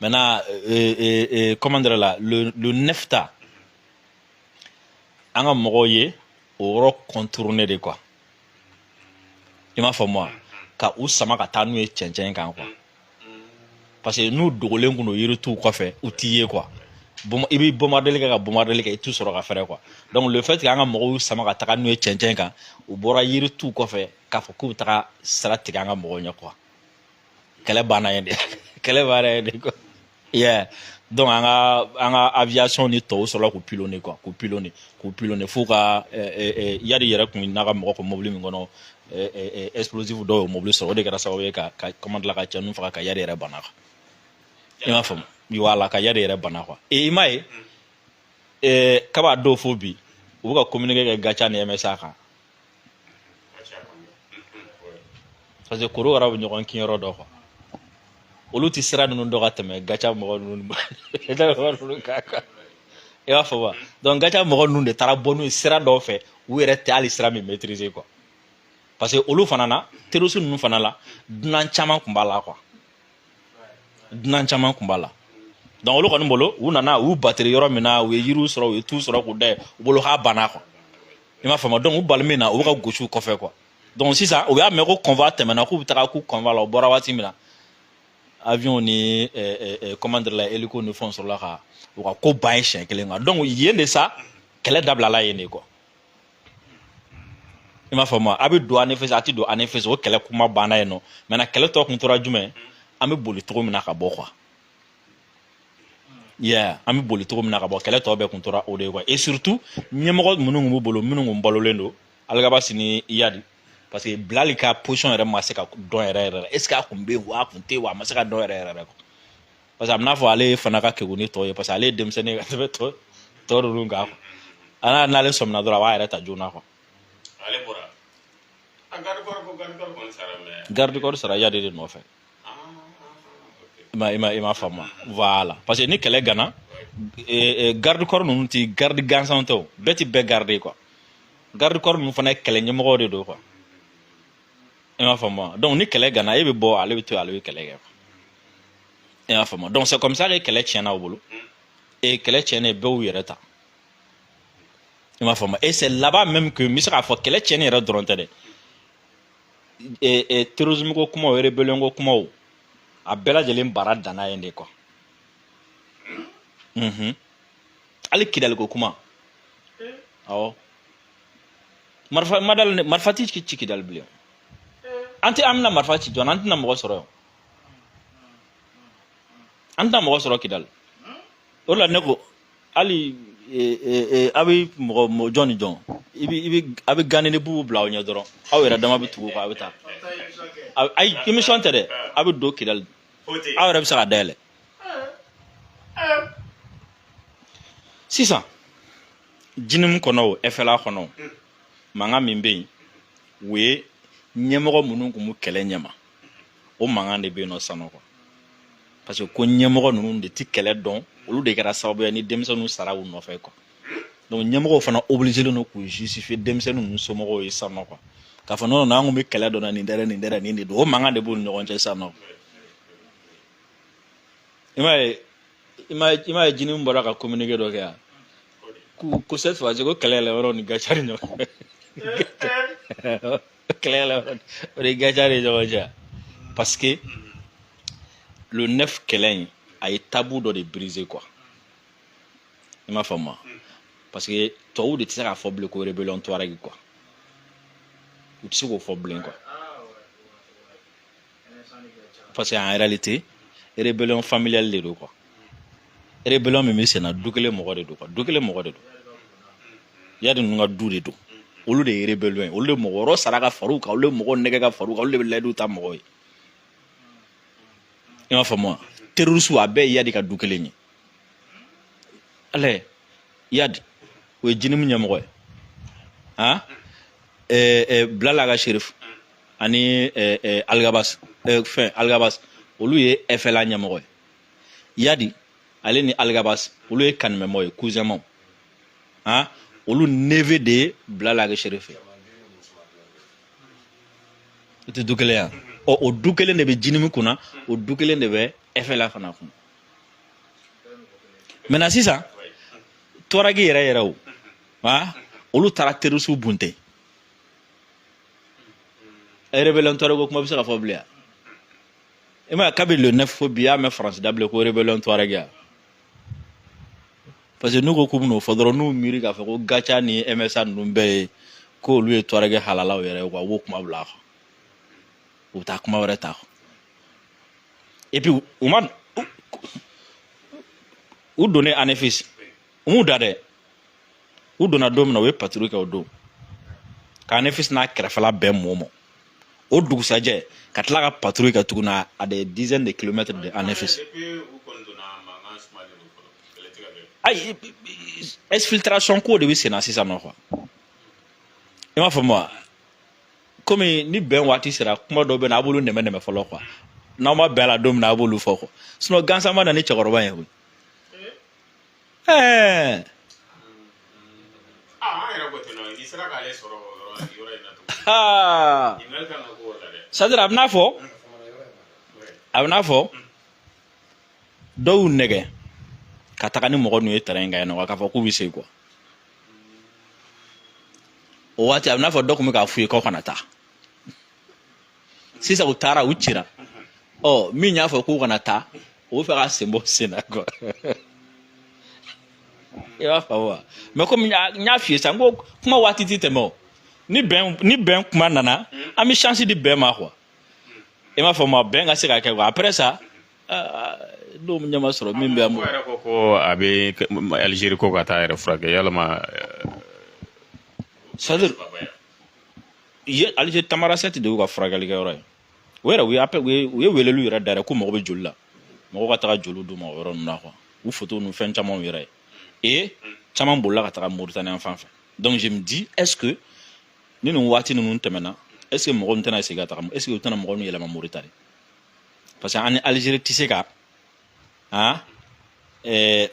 maintenant euh, euh, euh, comment dire la le le neuf ta an ka mɔgɔw ye o yɔrɔ contourner de quoi i m'a faamu wa ka u sama ka taa n'u ye cɛncɛn kan quoi parce que n'u dogolen kun don yirituw kɔfɛ u t'i ye quoi i bɛ bombardeli kɛ ka bombardeli kɛ i t'u sɔrɔ ka fɛrɛ quoi donc le fait que an ka mɔgɔw y'u sama ka taga n'u ye cɛncɛn kan u bɔra yirituw kɔfɛ k'a fɔ k'u bɛ taga sira tigɛ an ka mɔgɔw ɲɛ quoi kɛlɛ banna yen de kɛlɛ banna yen de quoi yeah donc an ka an ka aviation ni tɔw sɔrɔla k'u pilonner quoi k'u pilonner k'u pilonner f'u ka Iyad yɛrɛ kun n'a ka mɔgɔ kun mobili min kɔnɔ explosif dɔw y'o mobili sɔrɔ o de kɛra sababu ye ka ka comment dire la ka cɛ ninnu faga ka Iyad yɛrɛ bana quoi i m'a faamu voilà ka Iyad yɛrɛ bana quoi i m'a ye kab'o don fo bi u bɛ ka communiqué kɛ GATIA ni MSA kan parce que korokara bɛ ɲɔgɔn kin yɔrɔ dɔn quoi olu tɛ sira ninnu dɔn ka tɛmɛ GATIA mɔgɔ ninnu kan i m'a faamu wa donc GATIA mɔgɔ ninnu de taara bɔ n'u ye sira dɔw fɛ u yɛrɛ tɛ hali sira min maîtriser quoi parce que olu fana na terroriste ninnu fana la dunan caman kun b'a la quoi dunan caman kun b'a la donc olu kɔni bolo u nana u batiri yɔrɔ min na u ye yiriw sɔrɔ u ye tu sɔrɔ k'u da u bolo k'a banna quoi i m'a faamu donc u bali min na u bɛ ka gosi u kɔfɛ quoi donc sisan u y'a mɛn ko convoi tɛmɛna k'u bɛ taga k'u convoi la u bɔra waati min na avion ni comment dire la hélico ni fɛnw sɔrɔla ka u ka ko ban yen siɲɛ kelen kan donc yen de sa kɛlɛ dabilala yen de quoi i m'a faamu a bɛ don anefis a tɛ don anefis o kɛlɛ kuma banna yen nɔ maintenant kɛlɛ tɔ kun tora jumɛn an bɛ boli cogo min na ka bɔ quoi yeah an bɛ boli cogo min na ka bɔ kɛlɛ tɔ bɛɛ kun tora o de ye quoi et surtout ɲɛmɔgɔ minnu kun b'u bolo minnu kun balolen don algabasi ni iyadi parce que bilali ka position yɛrɛ ma se ka dɔn yɛrɛ yɛrɛ la est ce que a kun bɛ yen wa a kun tɛ yen wa a ma se ka dɔn yɛrɛ yɛrɛ quoi parce que a bɛ n'a fɔ ale fana ka kegun ni tɔ ye parce que ale ye denmisɛnnin ye ka tɛmɛ tɔ tɔ ninnu kan quoi n'ale sɔmina dɔrɔn a b'a yɛrɛ ta joona quoi ale bɔra a garde corps ko garde corps kɔni sara mais garde corps sara iyadi de nɔfɛ i ma i m'a faamu voilà parce que ni kɛlɛ gana garde corps ninnu ti garde gansan tɛ o bɛɛ ti bɛɛ garde quoi garde corps ninnu fana ye kɛlɛ ɲɛmɔgɔw de don quoi i m'a faamu donc ni kɛlɛ gana e bɛ bɔ ale bɛ to ale bɛ kɛlɛ kɛ i m'a faamu donc c'est comme ça que kɛlɛ tiɲɛna u bolo e kɛlɛ tiɲɛnen bɛɛ y'u yɛrɛ ta i m'a faamu et c'est là-bas même que n bɛ se k'a fɔ kɛlɛ tiɲɛni yɛrɛ dɔrɔn tɛ dɛ e e terrorisme ko kumaw rébellion ko kumaw a bɛɛ lajɛlen baara danna yen de quoi unhun hali kidali ko kuma awɔ. marifa ma dal ne marifa ti ci kidali bilen an tɛ an bɛna marifa ci jɔn an tɛna mɔgɔ sɔrɔ yan an tɛna mɔgɔ sɔrɔ kidali o la ne ko hali a bɛ mɔgɔ jɔn ni jɔn i bɛ i bɛ a bɛ ganni bubu bila aw ɲɛ dɔrɔn aw yɛrɛ dama bɛ tugu kɔ a bɛ taa ayi émission tɛ dɛ a bɛ don kidali aw yɛrɛ bɛ se ka dayɛlɛ sisan jinimu kɔnɔ o ɛfɛla kɔnɔ o mm. mankan min bɛ yen o ye ɲɛmɔgɔ minnu kun b'u kɛlɛ ɲɛma o mankan de bɛ yen nɔ sanɔ quoi parce que ko ɲɛmɔgɔ ninnu de ti kɛlɛ dɔn olu de kɛra sababuya ni denmisɛnninw sara u nɔfɛ quoi donc ɲɛmɔgɔw fana obligelen don k'u justifier denmisɛnnin ninnu somɔgɔw ye sanɔ quoi k'a fɔ non n'an kun bɛ kɛlɛ dɔn nin dɛrɛ nin dɛrɛ nin de don o mankan de b'u ni ɲɔgɔn cɛ sanɔ i m'a ye i ma i m'a ye jinimu bɔra ka communiqué dɔ kɛ yan ko ko cette fois ci ko kɛlɛ yɛlɛ yɔrɔ ni gatia ni ɲɔgɔn kɛlɛ yɛlɛ yɔrɔ o de gatia ni ɲɔgɔn cɛ parce que le neuf kɛlɛ in a ye tabu dɔ de briser quoi i m'a faamu wa parce que tɔw de tɛ se k'a fɔ bilen ko rébellion touareg quoi u tɛ se k'o fɔ bilen quoi parce que en réalité rébellion familiale de don quoi rébellion min bɛ senna du kelen mɔgɔ de don quoi du kelen mɔgɔ de don iyad ninnu ka du de don olu de ye rébellion ye olu de mɔgɔ wɛrɛ sara ka far'u kan olu de mɔgɔ nɛgɛn ka far'u kan olu de bɛ layidu ta mɔgɔ ye i m'a faamu wa terroriste a bɛɛ ye iyad ka du kelen ye ale iyad o ye jnim ɲɛmɔgɔ ye han ɛɛ ɛɛ bilal ag cherif ani alghabass fɛn alghabass olu ye fla ɲɛmɔgɔ ye iyad ale ni alghabass olu ye kanimɛmaw ye cousinmaw han olu neveu de ye bilal ag cherif ye o tɛ du kelen ye wa ɔ o du kelen de bɛ jnim kunna o du kelen de bɛ fla fana kunna maintenant sisan tuareg yɛrɛ yɛrɛw olu taara terroristew bunte e rebellion tuareg ko kuma bɛ se ka fɔ bilen i ma kabi le neuf fo bi y'a mɛn france da bilen ko rebellion tuareg wa parce que n'u ko k'u bɛn'o fɔ dɔrɔn n'u miiri k'a fɔ ko gatia ni msa ninnu bɛɛ ye k'olu ye tuareg halalaw yɛrɛ ye quoi u b'o kuma bila a kɔ u bɛ taa kuma wɛrɛ ta et puis u ma u donnen anefis u m'u da dɛ u donna don min na u ye patrouille kɛ o don k'anefis n'a kɛrɛfɛla bɛɛ mɔmɔ o dugusajɛ ka tila ka patrouille kɛ tuguni à des dizaines de kilomètres de anefis ayi exfiltration ko de bɛ senna sisan nɔ quoi i m'a faamu wa komi ni bɛn waati sera kuma dɔ bɛ na an b'olu nɛmɛnɛmɛ fɔlɔ quoi n'an ma bɛn a la don min na an b'olu fɔ quoi sinon gansan ma na ni cɛkɔrɔba ye koyi ɛɛ. aa an yɛrɛ ko ten nɔ n'i sera k'ale sɔrɔ yɔrɔ yɔrɔ in na tugun. aa. ɲininkali kan ka k'o la dɛ. c'est à dire a bɛ n'a fɔ a bɛ n'a fɔ dɔw nɛgɛn ka taga ni mɔgɔ ninnu ye terrain in kan yen nɔ k'a fɔ k'u bɛ se quoi o waati a bɛ n'a fɔ dɔ tun bɛ k'a f'u ye k'aw kana taa. sisan u taara u cira ɔ min y'a fɔ k'u kana taa o bɛ fɛ ka sen bɔ sen na quoi i b'a faamu wa mɛ komi n y'a f'i ye sisan n ko kuma waati tɛ tɛmɛ o ni bɛn ni bɛn kuma nana an bɛ chance di bɛn ma quoi i m'a faamu wa bɛn ka se ka kɛ quoi après ça. n'o ɲɛ ma sɔrɔ min bɛ an bolo. yɛrɛ ko ko a bɛ Algérie ko ka taa a yɛrɛ furakɛ yalama. c'est à dire ye alizeri tamarasɛti de y'u ka furakɛlikɛ yɔrɔ ye o yɛrɛ u ye appel u ye u ye weleliw yɛrɛ da yɛrɛ ko mago bɛ joli la mɔgɔ ka taga joli d'u ma o yɔrɔ ninnu na quoi u foto ninnu fɛn camanw yɛrɛ ye e caman bolila ka taga moritani yan fan fɛ donc je me dis est ce que ni nin waati ninnu tɛmɛna est ce que mɔgɔ ninnu tɛna segin ka taga est ce que u tɛna mɔgɔ ninnu yɛlɛma moritani parce que an ni alizeri tɛ se ka han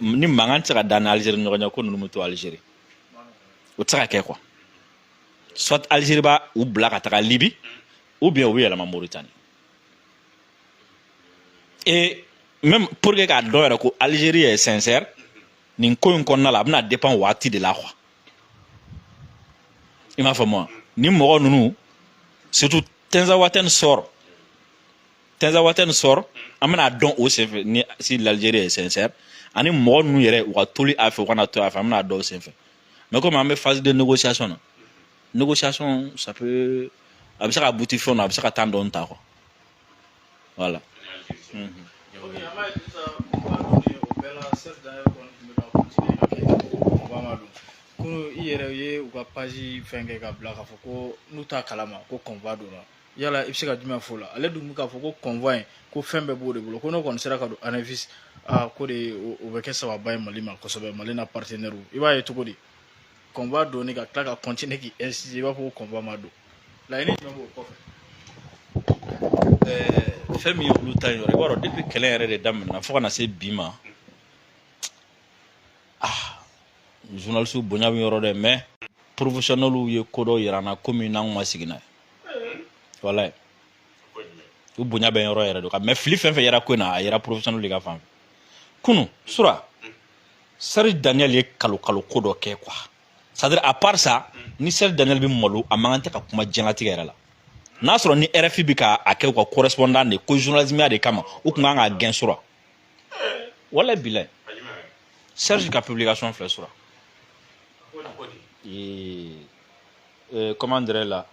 ni mankan tɛ se ka da an ni alizeri ni ɲɔgɔn cɛ ko ninnu bɛ to alizeri o tɛ se ka kɛ quoi soit Algérie bɛ u bila ka taga Libye ou bien u bɛ yɛlɛma Mauritanie et même pour que k'a dɔn yɛrɛ ko Algérie ye sincère nin ko in kɔnɔna la a bɛna dépend waati de la quoi i m'a faamu wa ni mɔgɔ ninnu surtout Tenzawaten sort tɛnzawatɛn sort an bɛna dɔn o senfɛ ni si l'Algérie est sincère ani mɔgɔ ninnu yɛrɛ u ka toli a fɛ u kana to a fɛ an bɛna dɔn o senfɛ mais komi an bɛ phase de négociation na négociation ça peut a bɛ se ka buti fɛnw na a bɛ se ka temps dɔɔni ta quoi voilà. Mm -hmm. kunu i yɛrɛ ye u ka page fɛn kɛ ka bila k'a fɔ ko n'u t'a kalama ko convoi donna yala i bɛ se ka jumɛn fɔ o la ale dun bɛ k'a fɔ ko convoi in ko fɛn bɛɛ b'o de bolo ko n'o kɔni sera ka don anafisi aa ko de o bɛ kɛ sababa ye mali ma kosɛbɛ mali n'a partenaire i b'a ye cogo di convoi donni ka tila ka continuer k'i insister i b'a fɔ ko convoi ma don laɲini jumɛn b'o kɔfɛ. ɛɛ fɛn min ye olu ta in yɔrɔ i b'a dɔn depuis kɛlɛ yɛrɛ de daminɛna fo ka na se bi ma ah journaliste bonya bɛ yɔrɔ dɛ mais professionnels ye ko dɔ yira an na komi n'an ma sigi n'a ye. walayi u bonya bɛ yɔrɔ yɛrɛ de quand même fili fɛn fɛn yera ko in na a yera professionnel de ka fan fɛ kunu sura serge daniel ye kalon kalon ko dɔ kɛ quoi c'est à dire à part ça ni serge daniel bɛ malo a man kan tɛ ka kuma diɲɛlatigɛ yɛrɛ la n'a sɔrɔ ni rfi bɛ ka a kɛ u ka correspondant de ko journalismya de kama u tun kan k'a gɛn sura walayi bilayi serge ka publication filɛ sura eh, comment dirais là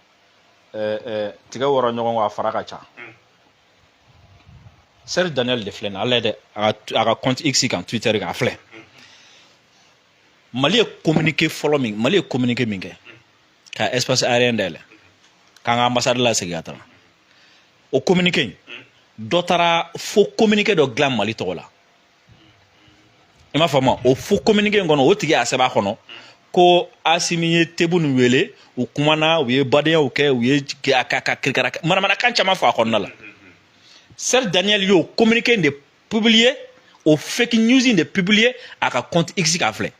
eh, eh, tigɛ wɔrɔ ɲɔgɔn kɔ a fara ka ca mm. serge daniel de filɛ nin ale dɛ a ka compte x kan twitter kan a filɛ mm. mali ye communiqué fɔlɔ min mali ye communiqué min kɛ mm. ka espace aérien dayɛlɛ k'an ka ambassade lasegin ka taa o communiqué in dɔ taara fo communiqué dɔ dilan mali tɔgɔ la i m'a faamu o faux communiqué in kɔnɔ o tigi y'a sɛbɛn a kɔnɔ ko asimi ye tebboune wele u kumana u ye badenyaw kɛ u ye ka ka kirikara manamanakan caman fɔ a kɔnɔna la serge daniel y'o communiqué in de publier o fake news in de publier a ka compte x kan filɛ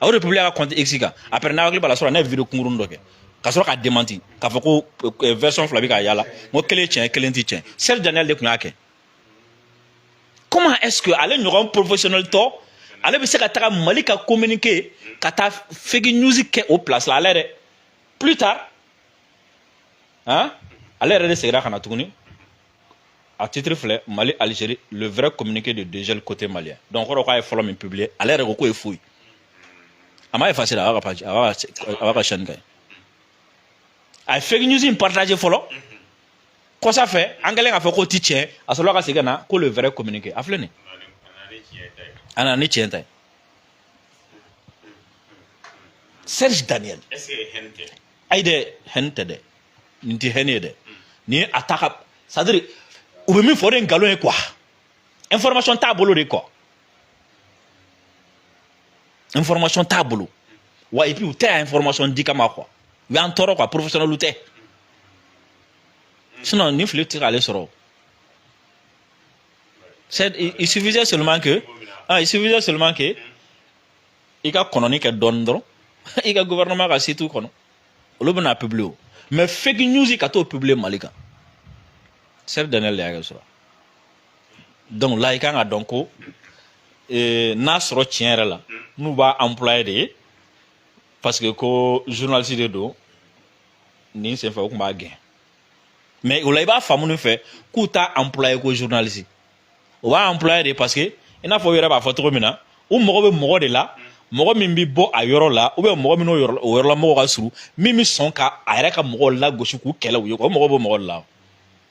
a y'o de publier a ka compte x kan après n'a hakili b'a la surɔ n ye video kunkuruni dɔ kɛ ka sɔrɔ k'a démenti k'a fɔ ko version fila bɛ ka yaala n ko kelen tiɲɛ kelen tɛ tiɲɛ serge daniel de tun y'a kɛ comment est-ce que ale ɲɔgɔn professionnel tɔ ale bɛ se ka taga mali ka communiqué ka taa fake news kɛ o place la ale yɛrɛ plus tard hein ale yɛrɛ de segira ka na tuguni a titre filɛ mali algérie le vrai communiqué de dégel côté malien donc kɔrɔ k'a ye fɔlɔ min publier ale yɛrɛ ko k'o ye faux ye a ma effacer a b'a ka page a b'a ka chaîne kan yen a ye fake news in partager fɔlɔ kɔsa fɛ an kɛlen k'a fɔ k'o ti tiɲɛ a sɔrɔla ka segin ka na ko le vrai communiqué a filɛ nin a nana ni tiɲɛ ta ye serge daniel ayi dɛ haine tɛ dɛ nin tɛ haine ye dɛ nin ye a ta ka c'est à dire u bɛ min fɔ o de ye nkalon ye quoi information t'a bolo de quoi information t'a bolo wa et puis u tɛ yan information di kama quoi u y'an tɔɔrɔ quoi professionnel tɛ. sinon nin fili ti k'ale sɔrɔ c'est il suffisait seulement que ah il suffisait seulement que i ka kɔnɔni kɛ dɔɔni dɔrɔn i ka gouvernement ka site kɔnɔ olu bɛna publier o mais fake news ka t'o publier mali kan serge daniel de y'a kɛ surɔ donc la i kan ka dɔn ko eh, n'a sɔrɔ tiɲɛ yɛrɛ la n'u b'a employé de ye parce que ko journaliste de don nin senfɛ u tun b'a gɛn mais o la i b'a faamu nin fɛ k'u t'a employé ko journaliste u b'a employé de parce que i n'a fɔ u yɛrɛ b'a fɔ cogo min na u mago bɛ mɔgɔ de la mɔgɔ min bɛ bɔ a yɔrɔ la ou bien mɔgɔ min n'o yɔrɔla mɔgɔw ka surun min bɛ sɔn ka a yɛrɛ ka mɔgɔw lagosi k'u kɛlɛ u ye u mago b'o mɔgɔ de la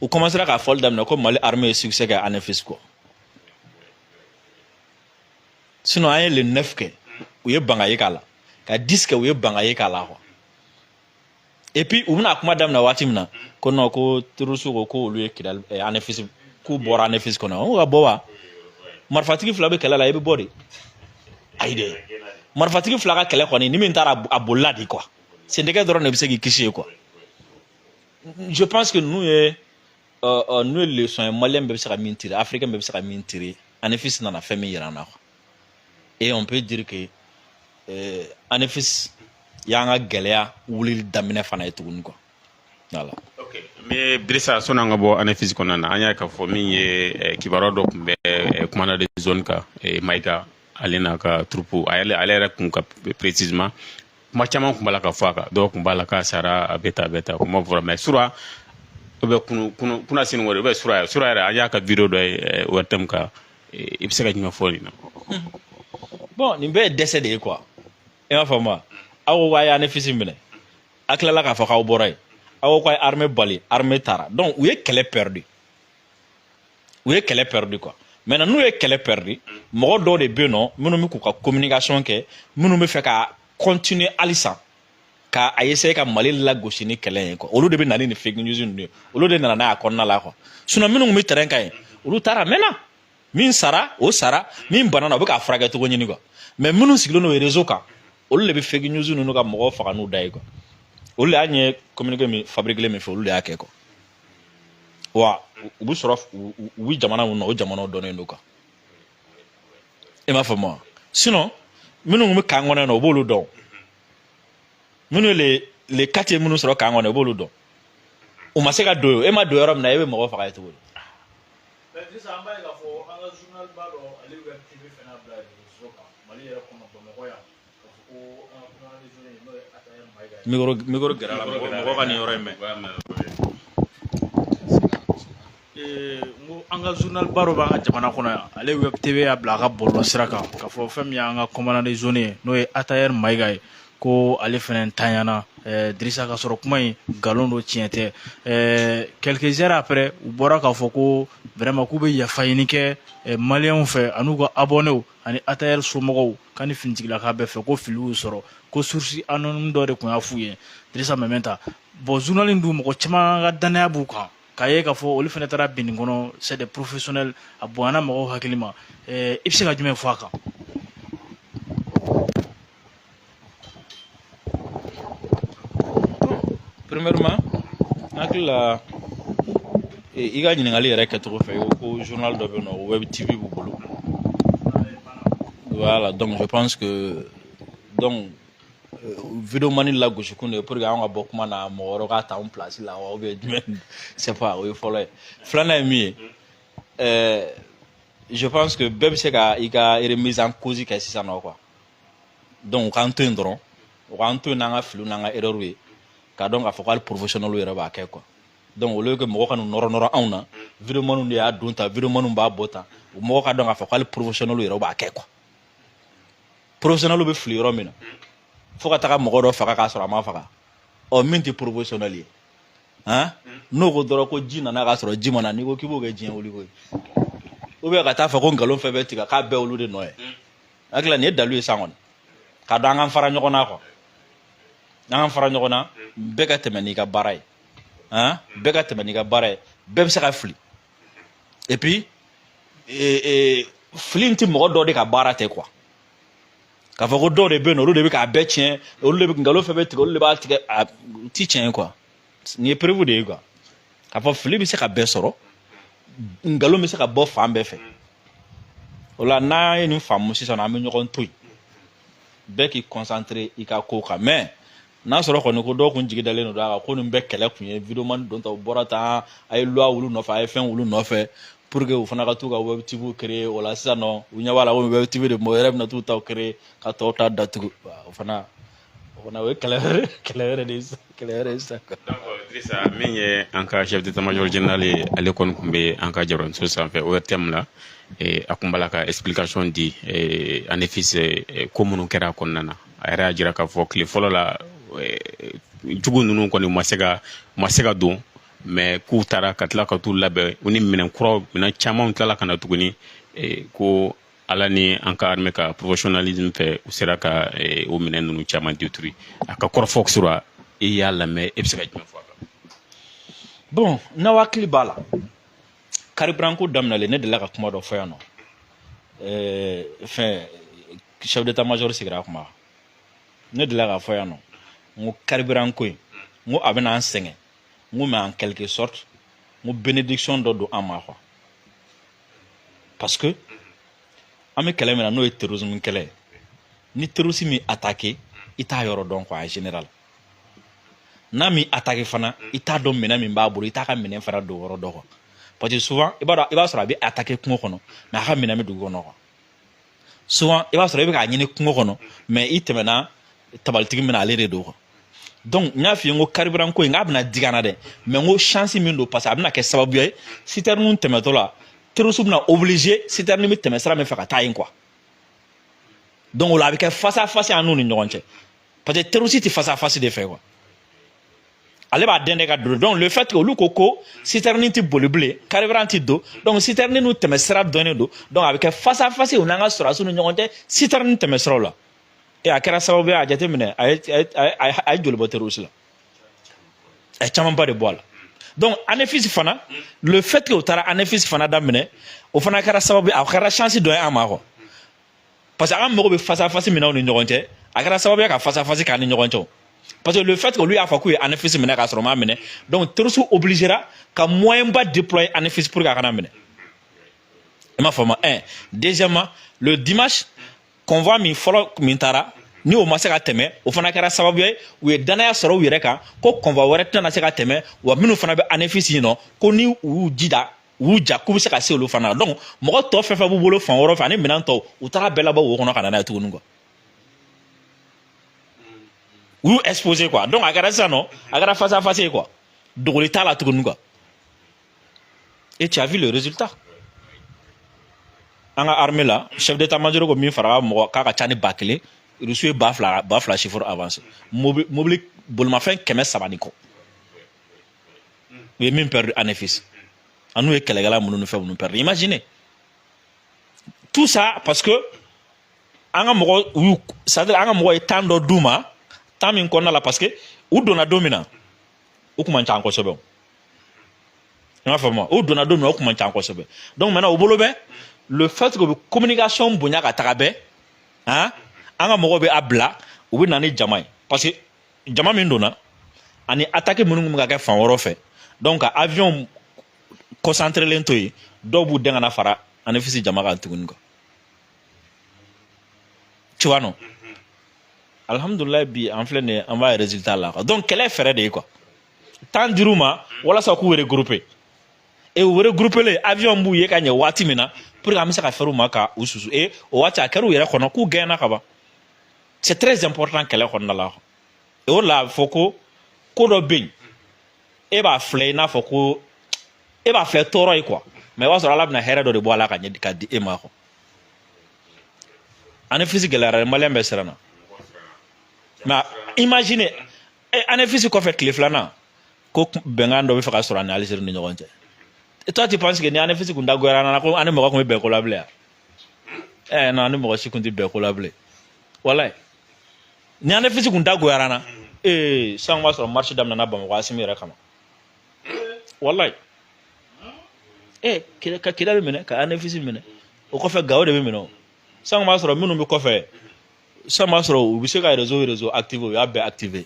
u kɔmansera k'a fɔli daminɛ ko mali armée ye succès kɛ anefis quoi sinon an ye le 9 kɛ u ye banga ye k'a la ka 10 kɛ u ye banga ye k'a la quoi et puis u bɛna kuma daminɛ waati min na ko non ko terroriste ko ko olu ye kidali anefis eh, k'u bɔra anefis kɔnɔ an ko ka bɔ wa marifatigi fila bɛ kɛlɛ la i bɛ bɔ de ayi dɛ marifatigi fila ka kɛlɛ kɔni ni min taara a bolila de quoi sendɛgɛ dɔrɔn de bɛ se k'i kisi yen quoi je pense que nin ye euh, euh, nin ye leçon ye malien bɛɛ bɛ se ka min tirer africain bɛɛ bɛ se ka min tirer anefis nana fɛn min yira an na quoi et on peut dire que euh, anefis y'an ka gɛlɛya wulili daminɛ fana ye tuguni quoi voilà. Okay. mais dirisa sɔnni an ka bɔ anefis kɔnɔna na an y'a k'a fɔ min ye eh, kibaruya dɔ tun bɛ eh, commandant de zone kan eh, mayiga ale n'a ka troupe ale yɛrɛ kun kan précisément kuma caman tun b'a la ka fɔ a kan dɔw tun b'a la k'a sara a bɛ ta a bɛ ta kuma fɔra mais sura ou bien kunu kunu kunasini wɛrɛ ou bien sura sura yɛrɛ an y'a ka video dɔ ye eh, ORTM kan eh, i bɛ se ka jumɛn fɔ nin na. bon nin bɛɛ ye dɛsɛ de ye quoi i m'a faamu wa aw ko k'a y'anefis minɛ a tilala k'a fɔ k'aw bɔra yen aw ko k'a ye armée bali armée taara donc u ye kɛlɛ perdu u ye kɛlɛ pɛridi quoi maintenant n'u ye kɛlɛ pɛridi mɔgɔ dɔw de bɛ yen nɔ minnu bɛ k'u ka communication kɛ minnu b'a fɛ ka continuer halisa ka a essayer ka mali lagosi ni kɛlɛ ye quoi olu de bɛ na ni nin fake news ninnu ye olu de nana n'a ye a kɔnɔna la quoi sinon minnu tun bɛ terrain kan yen olu taara maintenant min sara o sara min banana u bɛ k'a furakɛ cogo ɲini quoi mais minnu sigilen don réseau kan olu de bɛ fake news ninnu ka mɔgɔw faga n'u da ye quoi olu de y'a ɲɛ communiqué min fabriquer min fɛ olu de y'a kɛ quoi wa u bɛ sɔrɔ u bɛ jamana minnu na o jamanaw dɔnnen don quoi i m'a faamu wa sinon minnu bɛ camp kɔnɔna u b'olu dɔn minnu le le kati minnu sɔrɔ camp kɔnɔ u b'olu dɔn u ma se ka don e ma don yɔrɔ min na e bɛ mɔgɔ faga yen cogo di. sisan an b'a ye k'a fɔ an ka journal ba dɔ ale web TV fana bila réseaux kan Mali yɛrɛ kɔnɔ Bamakɔ yan. Micro micro gɛrɛ i la mɔgɔ mɔgɔ ka nin yɔrɔ in mɛn ee n ko an ka journal ba dɔ b'an ka jamana kɔnɔ yan ale web TV y'a bila a ka bɔlɔlɔ sira kan k'a fɔ fɛn min y'an ka commandant de zone ye n'o ye atayɛri mayiga ye ko ale fana tanyana ɛɛ dirisa ka sɔrɔ kuma in nkalon don tiɲɛ tɛ ɛɛ quelques heures après u bɔra k'a fɔ ko vraiment k'u bɛ yafa ɲini kɛ maliyɛnw fɛ an'u ka abɔnew ani atayɛri somɔgɔw ka ni finitigilaka bɛɛ fɛ ko fili y'u sɔrɔ ko source anonyme dɔ de tun y'a f'u ye dirisa meminta bon journal in dun mɔgɔ caman ka dannaya b'u kan k'a ye k'a fɔ olu fana taara bin nin kɔnɔ c'est des professionnels a bonyana mɔgɔw hakili ma i bɛ se ka jumɛn fɔ a kan premièrement n hakili la i ka ɲininkali yɛrɛ kɛcogo fɛ i ko ko journal dɔ bɛ yen nɔ web tv b'u bolo voilà donc je pense que donc euh, videomani lagosikun de ye pour que an ka bɔ kuma na mɔgɔ wɛrɛ k'a ta an place la wa ou bien jumɛn sais pas o ye fɔlɔ ye filanan ye min ye euh, je pense que bɛɛ bɛ se ka i ka remise en cause kɛ sisan nɔ quoi donc u k'an to yen dɔrɔn u k'an to yen n'an ka filiw n'an ka erreur ye k'a dɔn k'a fɔ ko hali professionnel yɛrɛ b'a kɛ quoi donc au lieu que mɔgɔ ka n'u nɔrɔ nɔrɔ anw na videomaniw de y'a don tan videomaniw b'a bɔ tan u mɔgɔ k'a dɔn k'a fɔ ko hali professionnel yɛrɛ b'a kɛ quoi professionnel bɛ fili yɔrɔ min na fo ka taga mɔgɔ dɔ faga k'a sɔrɔ a ma faga ɔ min tɛ professionnel ye han n'o ko dɔrɔn ko ji nana k'a sɔrɔ ji ma na n'i ko k'i b'o kɛ diɲɛ wuli ko ye ou bien ka taa fɔ ko nkalon fɛn fɛn tigɛ k'a bɛɛ olu de nɔ ye hakili la nin ye dalu ye san kɔni k'a dɔn an k'an fara ɲɔgɔn na quoi an k'an fara ɲɔgɔn na bɛɛ ka tɛmɛ n'i ka baara ye han bɛɛ ka tɛmɛ n'i ka baara ye bɛɛ bɛ se ka fili et puis eh, eh, fili in tɛ mɔgɔ dɔ de ka baara tɛ quoi k'a fɔ ko dɔw de bɛ yen nɔ olu de bɛ k'a bɛɛ tiɲɛ olu de bɛ nkalon fɛn bɛɛ tigɛ olu de b'a tigɛ a ti tiɲɛ ye quoi nin ye preuve de ye quoi k'a fɔ fili bɛ se ka bɛɛ sɔrɔ nkalon bɛ se ka bɔ fan bɛɛ fɛ o la n'an ye nin faamu sisan an bɛ ɲɔgɔn to yen bɛɛ k'i concentrer i ka ko kan mais n'a sɔrɔ kɔni ko dɔw kun jigi dalen don a kan ko nin bɛɛ kɛlɛ kun ye videomani don ta u bɔra tan a ye loi wul'u nɔfɛ a ye fɛn wul'u nɔfɛ pour que u fana ka t'u ka web tv créer o la sisan nɔ u ɲɛ b'a la ko web tv de mɔgɔ yɛrɛ bɛna t'u taw créer ka tɔw ta datugu o fana fana o ye kɛlɛ wɛrɛ kɛlɛ wɛrɛ de ye sisan kɛlɛ wɛrɛ ye sisan quoi. donc Drissa min ye an ka chef d'état major général ye ale kɔni tun bɛ an ka jabaraninso sanfɛ ORTM la eh, a tun b'a la ka explication di eh, Anefis eh, ko minnu kɛra a kɔnɔna na a yɛrɛ y'a jira k'a fɔ tile fɔlɔ la eh, jugu ninnu kɔni u ma se ka u ma se ka don mais k'u taara ka tila ka t'u labɛn u ni minɛn kuraw minɛn camanw tilala ka na tuguni eh, ko ala ni an ka armée ka professionnalisme fɛ u sera ka eh, o minɛn ninnu caman détruire a ka kɔrɔfɔ sura i y'a lamɛn e bɛ se ka jumɛn fɔ a kan bon n'aw hakili b'a la carburant ko daminɛlen ne delila ka kuma dɔ fɔ yan nɔ eh, fɛn chef d'état major sigira a kuma ne delila k'a fɔ yan nɔ n ko carburant ko in n ko a bɛna an sɛgɛn n ko mais en quelque sorte n ko bénédiction dɔ don an ma quoi parce que an bɛ kɛlɛ min na n'o ye terrorisme kɛlɛ ye ni terroriste m'i attaqué i t'a yɔrɔ dɔn quoi en général n'a m'i attaqué fana i t'a dɔn minɛn min b'a bolo i t'a ka minɛn fana don yɔrɔ dɔn quoi parce que souvent i b'a sɔrɔ a bɛ attaqué kungo kɔnɔ mais a ka minɛn bɛ dugu kɔnɔ quoi souvent i b'a sɔrɔ i bɛ k'a ɲini kungo kɔnɔ mais i tɛmɛna tabalitigi min na ale de don quoi donc n y'a f'i ye n ko carburant ko in k'a bɛna digi an na dɛ mais n ko chance min don parce que a bɛna kɛ sababuya ye citerne tɛmɛtɔ la terroriste bɛna obligé citerne bɛ tɛmɛ sira min fɛ ka taa yen quoi donc o la a bɛ kɛ face à face an n'u ni ɲɔgɔn cɛ parce que terroriste tɛ face à face de fɛ quoi ale b'a dɛn de ka don donc le fait que olu ko ko citerne tɛ boli bilen carburant tɛ don donc citerne n'u tɛmɛ sira dɔnnen don donc a bɛ kɛ face à face u n'an ka sɔrɔdasiw ni ɲɔgɔn cɛ citerne tɛmɛ siraw la e a kɛra sababu ye a jateminɛ a ye a ye joli bɔ terroriste la a ye camanba de bɔ a la donc anefisi fana le fait que u taara anefisi fana daminɛ o fana kɛra sababu ye a kɛra chance dɔ ye an ma quoi parce que an mago bɛ face à face min na u ni ɲɔgɔn cɛ a kɛra sababu ye ka face à face k'an ni ɲɔgɔn cɛ parce que le fait que olu y'a fɔ k'u ye anefisi minɛ k'a sɔrɔ u m'a minɛ donc terroriste obligera ka moyen ba déployer anefisi pour que a kana minɛ i m'a faamu un deuxièmement le dimanche convoi min fɔlɔ min taara ni o ma se ka tɛmɛ o fana kɛra sababu ye u ye dannaya sɔrɔ u yɛrɛ kan ko convoi wɛrɛ tɛna se ka tɛmɛ wa minnu fana bɛ anefisi yen nɔ ko ni u y'u jija u ja k'u bɛ se ka se olu fana donc mɔgɔ tɔ fɛn fɛn b'u bolo fan wɛrɛ fɛ ani minɛn tɔw u taara bɛɛ labɔ wo kɔnɔ ka na n'a ye tuguni quoi u y'u exposer quoi donc a kɛra sisan nɔ a kɛra face à face ye quoi dogoli t'a la tuguni quoi et tu as vu le résultat an ka armée la chef d'état-major ko min fagara mɔgɔ k'a ka ca ni ba kelen rusu ye ba fila ba fila chiffre avancé mobili mobili bolimafɛn kɛmɛ saba ni kɔ u ye min perdu anefis an'u ye kɛlɛkɛla minnu ni fɛn minnu perdu imagine tout ça parce que an ka mɔgɔw y'u c'est-à-dire an ka mɔgɔ ye temps dɔ d'u ma temps min kɔnɔna la parce que u donna don min na u kun man ca kosɛbɛ i m'a faamu u donna don min na u kun man ca kosɛbɛ donc maintenant u bolo bɛ le fait que u bɛ communication bonya ka taga bɛɛ han an ka mɔgɔw bɛ a bila u bɛ na ni jama ye parce que jama min donna ani attaque minnu bɛ ka kɛ fan wɛrɛ fɛ donc ka avion concentrelen to yen dɔw b'u dɛn ka na fara anefisi jama kan tuguni quoi tu vois non alhamdulillah bi an filɛ nin an b'a résultat la quoi donc kɛlɛ fɛɛrɛ de ye quoi temps dir'u ma walasa k'u regrouper e u regroupelen avion b'u ye ka ɲɛ waati min na pour que an bɛ se ka fɛrɛ u ma ka u susu e o waati a kɛra u yɛrɛ kɔnɔ k'u gagnéna ka ban c'est très important kɛlɛ kɔnɔna la o la a bɛ fɔ ko ko dɔ bɛ yen e b'a filɛ i n'a fɔ ko e b'a filɛ tɔɔrɔ ye quoi mais i b'a sɔrɔ ala bɛna hɛrɛ dɔ de bɔ a la ka ɲɛ ka di e ma quoi anefisi gɛlɛyara maliyɛn bɛɛ siranna mais imagine anefisi kɔfɛ tile filanan ko bɛnkan dɔ bɛ fɛ ka sɔrɔ an ni alizeri ni ɲɔgɔn cɛ toi tu penses que ni anefisi kun dagoyara an na ko an ni mɔgɔ kun bɛ bɛn ko la bilen ɛɛ non an ni mɔgɔ si kun ti bɛn ko la bilen walayi ni anefisi kun dagoyara an na ee sisan b'a sɔrɔ marche daminɛna bamakɔ asimi yɛrɛ kama walayi ee ka kidali minɛ ka anefisi minɛ o kɔfɛ gawo de bɛ minɛ o sisan b'a sɔrɔ minnu bɛ kɔfɛ san b'a sɔrɔ u bɛ se ka réseau réseau activer u y'a bɛɛ activer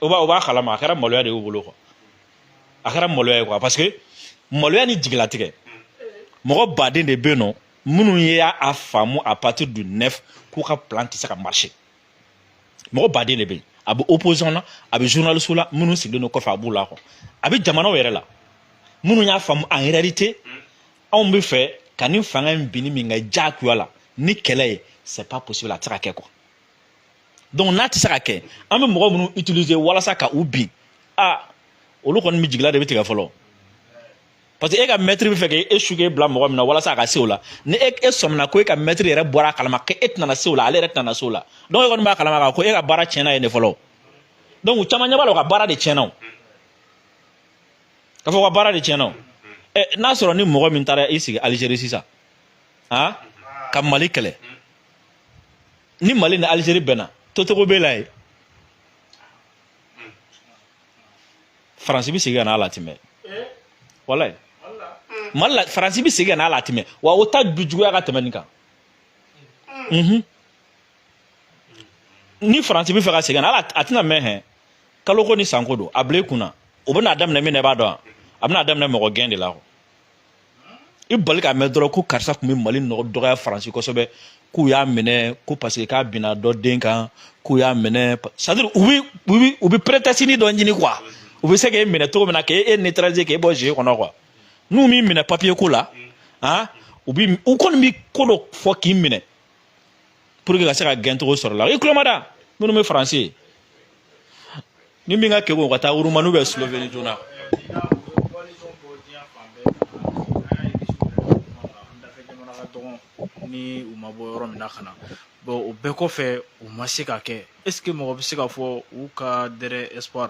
o b'a o b'a kalama a kɛra maloya de y'u bolo quoi a kɛra maloya ye quoi parce que maloya ni jigilatigɛ mɔgɔ baden de bɛ yen nɔ minnu ye a faamu à partir du neuf k'u ka plan tɛ se ka marcher mɔgɔ baden de bɛ yen a bɛ opposition na a bɛ journaliste la minnu sigilen don kɔfɛ a b'u la quoi a bɛ jamanaw yɛrɛ la minnu y'a faamu en réalité anw bɛ fɛ ka nin fanga in binni min kɛ diyagoya la ni kɛlɛ ye c'est pas possible a tɛ se ka kɛ quoi donc n'a tɛ se ka kɛ an bɛ mɔgɔ minnu utiliser walasa ka u bin a olu kɔni bɛ jigila de bɛ tigɛ fɔlɔ. parce que e ka maître bɛ fɛ k'e e su k'e bila mɔgɔ min na walasa a ka se o la ni e e sɔmina ko e ka maître yɛrɛ bɔra a kalama k'e tɛna se o la ale yɛrɛ tɛna se o la donc e kɔni b'a kalama k'a ko e ka baara tiɲɛna yen de fɔlɔ donc u caman ɲɛ b'a la u ka baara de tiɲɛna o k'a fɔ u ka baara de tiɲɛna o ɛ n'a sɔrɔ ni mɔgɔ min taara i sigi Algérie sisan han ka Mali kɛlɛ ni Mali ni Algérie bɛnna totogo b'e la yen faransi bɛ segin ka n'a la a tɛ mɛn walayi mali la faransi bɛ segin ka n'a la a tɛ mɛn wa o ta du juguya ka tɛmɛ nin kan ni faransi bɛ fɛ ka segin a la a tɛna mɛn hɛn kalo ko ni san ko don a bila i kunna o bɛna daminɛ min na i b'a dɔn a bɛna daminɛ mɔgɔ gɛn de la i bali k'a mɛn dɔrɔn ko karisa tun bɛ mali nɔgɔ dɔgɔya faransi kosɛbɛ k'u y'a minɛ ko parce que k'a binna dɔ den kan k'u y'a minɛ c'est à dire u bɛ u bɛ u bɛ prétextenin dɔ ɲini quoi u bɛ se k'e minɛ cogo min na k'e e neutraliser k'e bɔ jeu kɔnɔ quoi n'u m'i minɛ papier ko la han u bɛ u kɔni bɛ ko dɔ fɔ k'i minɛ pour que ka se ka gɛncogo sɔrɔ la i tulo ma da minnu bɛ faransi ni min ka kɛ o ka taa urumani bɛ sloveni joona ni u ma bɔ yɔrɔ min na ka na o bɛɛ kɔfɛ u ma se ka kɛ est ce que mɔgɔ bɛ se ka fɔ u ka dernier espoir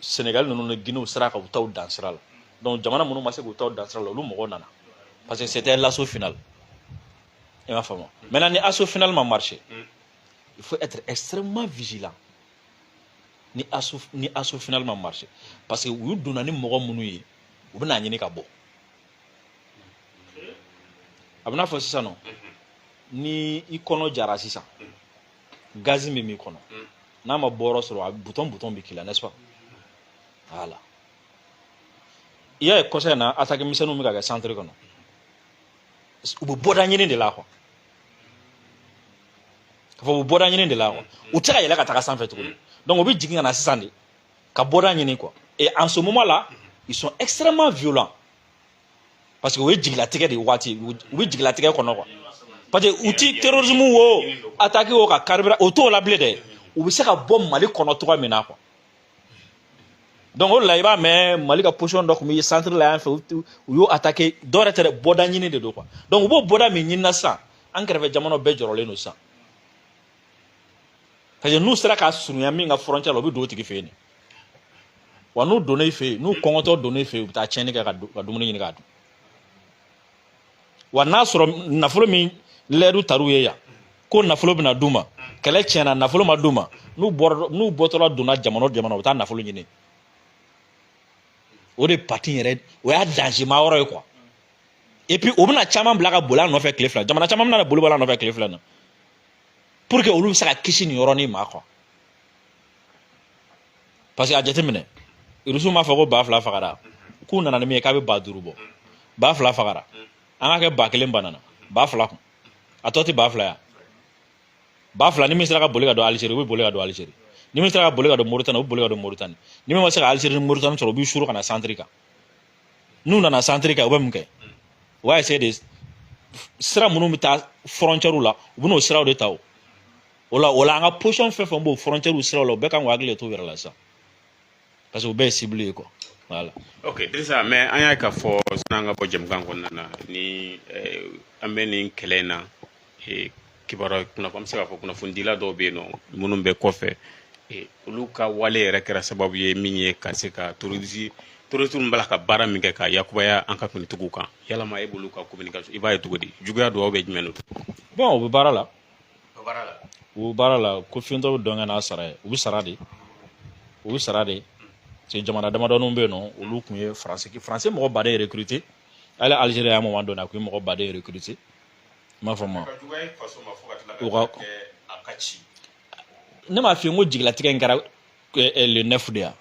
Sénégal ninnu ni Guinéew sera ka u taw dan sira la donc jamana minnu ma se k'u taw dan sira la olu mɔgɔw nana parce que c'était l'assaut final i m'a faamu maintenant ni assaut final ma marché il faut être extrêmement vigilant ni assaut ni assaut final ma marché parce que u donna ni mɔgɔ minnu ye u bɛna ɲini ka bɔ a bɛna fɔ sisan nɔ ni i kɔnɔ jara sisan gazi min b'i kɔnɔ mm. n'a ma bɔyɔrɔ sɔrɔ a butɔn butɔn bɛ k'i la n'est-ce pas voilà i y'a ye kɔsa in na attaque misɛnninw bɛ ka kɛ centre kɔnɔ u bɛ bɔda ɲini de la quoi k'a fɔ u bɛ bɔda ɲini de la quoi mm. u tɛ se ka yɛlɛ ka taga sanfɛ tuguni donc u bɛ jigin ka na sisan de ka bɔda ɲini quoi et en ce moment là ils sont extrêmement violents parce que o ye jigilatigɛ de waati u bɛ jigilatigɛ kɔnɔ quoi parce que u ti terrorisme wo attaque wo ka carburant u t'o la bilen dɛ u bɛ se ka bɔ mali kɔnɔ cogoya min na quoi donc o de la i b'a mɛn mali ka position dɔ tun bɛ centre la yan fɛ u y'o attaqué dɔ yɛrɛ tɛ dɛ bɔda ɲini de don quoi donc u b'o bɔda min ɲinina sisan an kɛrɛfɛ jamanaw bɛɛ jɔrɔlen don sisan parce que n'u sera ka surunya min ka frontière la u bɛ don o tigi fɛ yen de wa n'u donna i fɛ yen n'u kɔngɔtɔ donna i fɛ yen u bɛ taa tiɲɛni kɛ ka dumuni ɲini k'a dun wa n'a sɔrɔ nafolo min layidu tar'u ye yan ko nafolo bɛna d'u ma kɛlɛ tiɲɛna nafolo ma d'u ma n'u bɔra n'u bɔtɔla donna jamana o jamana u bɛ taa nafolo ɲini o de partie yɛrɛ o y'a danger ma yɔrɔ ye quoi et puis o bɛna caman bila ka boli a nɔfɛ tile fila jamana caman bɛna boli bɔ a nɔfɛ tile fila na pour que olu bɛ se ka kisi nin yɔrɔnin ma quoi parce que a jateminɛ rusiw m'a fɔ ko ba fila fagara k'u nana ni min ye k'a bɛ ba duuru bɔ ba fila fagara an ka kɛ ba kelen banana ba fila kun a tɔ tɛ ba fila ya ba fila ni min sera ka boli ka don alizeri u bɛ boli ka don alizeri ni min sera ka boli ka don moritani u bɛ boli ka don moritani ni min ma se ka alizeri ni moritani sɔrɔ u b'i suru ka na centre kan n'u nana centre kan u bɛ mun kɛ u b'a essayer de sira minnu bɛ taa frontièrew la u bɛn'o siraw de ta o o la o la an ka position fɛn fɛn b'o frontière siraw la u bɛɛ kan k'u hakili de t'u yɛrɛ la sisan parce que u bɛɛ ye cible ye quoi voilà. ok dirisa mais an y'a k'a fɔ sani an ka bɔ jamukan kɔnɔna na ni eh, an bɛ nin kɛlɛ in na kibaruya kunnafoni an bɛ se k'a fɔ kunnafonidila dɔw bɛ yen nɔ minnu bɛ kɔfɛ olu ka wale yɛrɛ kɛra sababu ye min ye ka se ka terroriste terroriste min b'a la ka baara min kɛ ka yakubaya an ka finitigiw kan yalama e b'olu ka communication i b'a ye cogo di juguya dɔw bɛ jumɛn don bon u bɛ baara la u bɛ baara la ko fiyentɔ bɛ dɔn kɛ n'a sara ye u bɛ sara de u bɛ sara de parce jamana damadɔninw bɛ yen nɔ olu tun ye faransi faransi mɔgɔba de ye recruter hali Algérie y'a moment dɔ la a tun ye mɔgɔba de recruter m'a fɔ ma ne m'a f'i ye n ko jigilatigɛ in kɛra le neuf de ya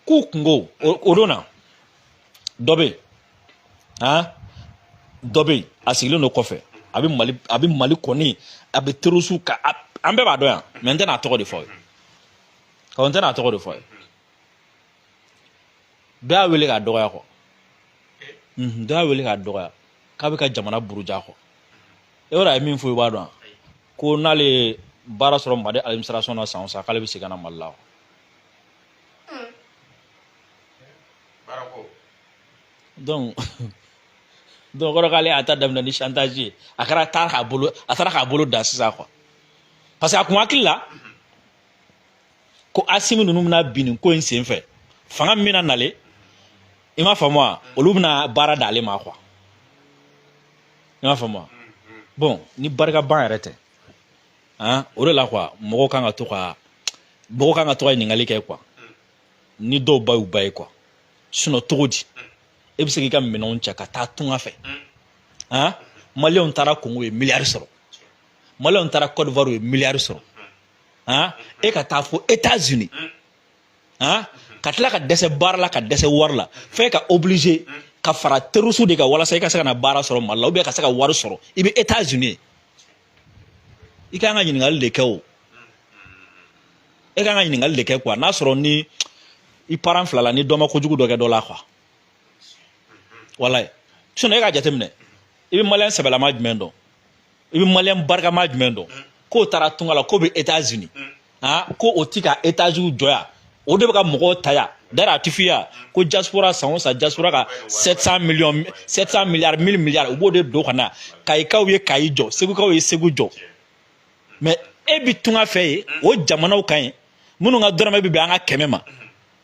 k'u kungo o don na dɔ bɛ yen han dɔ bɛ yen a sigilen don kɔfɛ a bɛ mali a bɛ mali kɔni a bɛ terroristew kan an bɛɛ b'a dɔn yan mais n tɛna a tɔgɔ de fɔ aw ye ɔ n tɛna a tɔgɔ de fɔ aw ye dɔ y'a wele k'a dɔgɔya quoi dɔ y'a wele k'a dɔgɔya k'a bɛ ka jamana buruja quoi e yɛrɛ a ye min fɔ i b'a dɔn ko n'ale ye baara sɔrɔ mali administration na san o san k'ale bɛ segin ka na mali la donc o kɔrɔ k'ale y'a ta daminɛ ni chantage ye a taara k'a bolo da sisan quoi parce que a kun hakili la ko asimi ninnu bɛna bin nin ko in sen fɛ fanga min bɛna nale i m'a faamu wa olu bɛna baara d'ale ma kuwa i m'a faamu wa bɔn ni barika ban yɛrɛ tɛ han o de la kuwa mɔgɔw kan ka to ka ɲininkali kɛ kuwa ni dɔw ba y'u ba ye kuwa sinɔn cogo di e bɛ se k'i ka minɛnw cɛ ka taa tunga fɛ han maliyɛnw taara kongo ye miliyari sɔrɔ maliyɛnw taara kɔdiwari ye miliyari sɔrɔ han e ka taa fo États-Unis han ka tila ka dɛsɛ baara la ka dɛsɛ wari la f'e ka obligé ka fara terroriste de kan walasa i ka se ka na baara sɔrɔ Mali la ou bien ka se ka wari sɔrɔ i bɛ États-Unis i ka kan ka ɲininkali de kɛ o e ka kan ka ɲininkali de kɛ quoi n'a sɔrɔ ni i parent fila la ni dɔ ma kojugu dɔ kɛ dɔ la quoi walayi sinon e k'a jateminɛ i bɛ maliyɛn sɛbɛlama jumɛn dɔn i bɛ maliyɛn barikama jumɛn dɔn k'o taara tunga la k'o bɛ etats unis han ko o ti ka etats unis jɔ yan o de bɛ ka mɔgɔw ta yan d'ailleurs a ti f'i ye ko diaspora san o san diaspora ka 700 millions 700 milliards 1000 milliards u b'o de don ka na kayikaw ye kayi jɔ segukaw ye segu jɔ mais e bi tunga fɛ yen o jamanaw kan yen minnu ka dɔrɔmɛ bɛ bɛn an ka kɛmɛ ma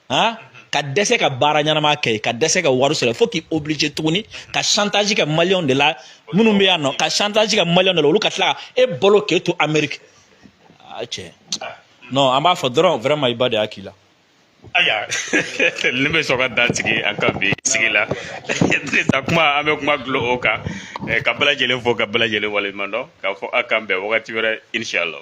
han ka dɛsɛ ka baara ɲɛnama kɛ ka dɛsɛ ka wari sɔrɔ fo k'i obligé tuguni ka chantage kɛ maliyɛnw de la minnu bɛ yan nɔ ka chantage kɛ maliyɛnw de la olu ka tila ka e balo k'e to ameriki a cɛ non an b'a fɔ dɔrɔn vraiment i ba de y'a k'i la aya ne bɛ sɔn ka dan sigi an ka bi sigi la sa kuma an bɛ kuma dulon o kan eh, ka bɛɛ lajɛlen fo ka bɛɛ lajɛlen waleɲuman dɔn k'a fɔ a k'an bɛn wagati wɛrɛ inshallah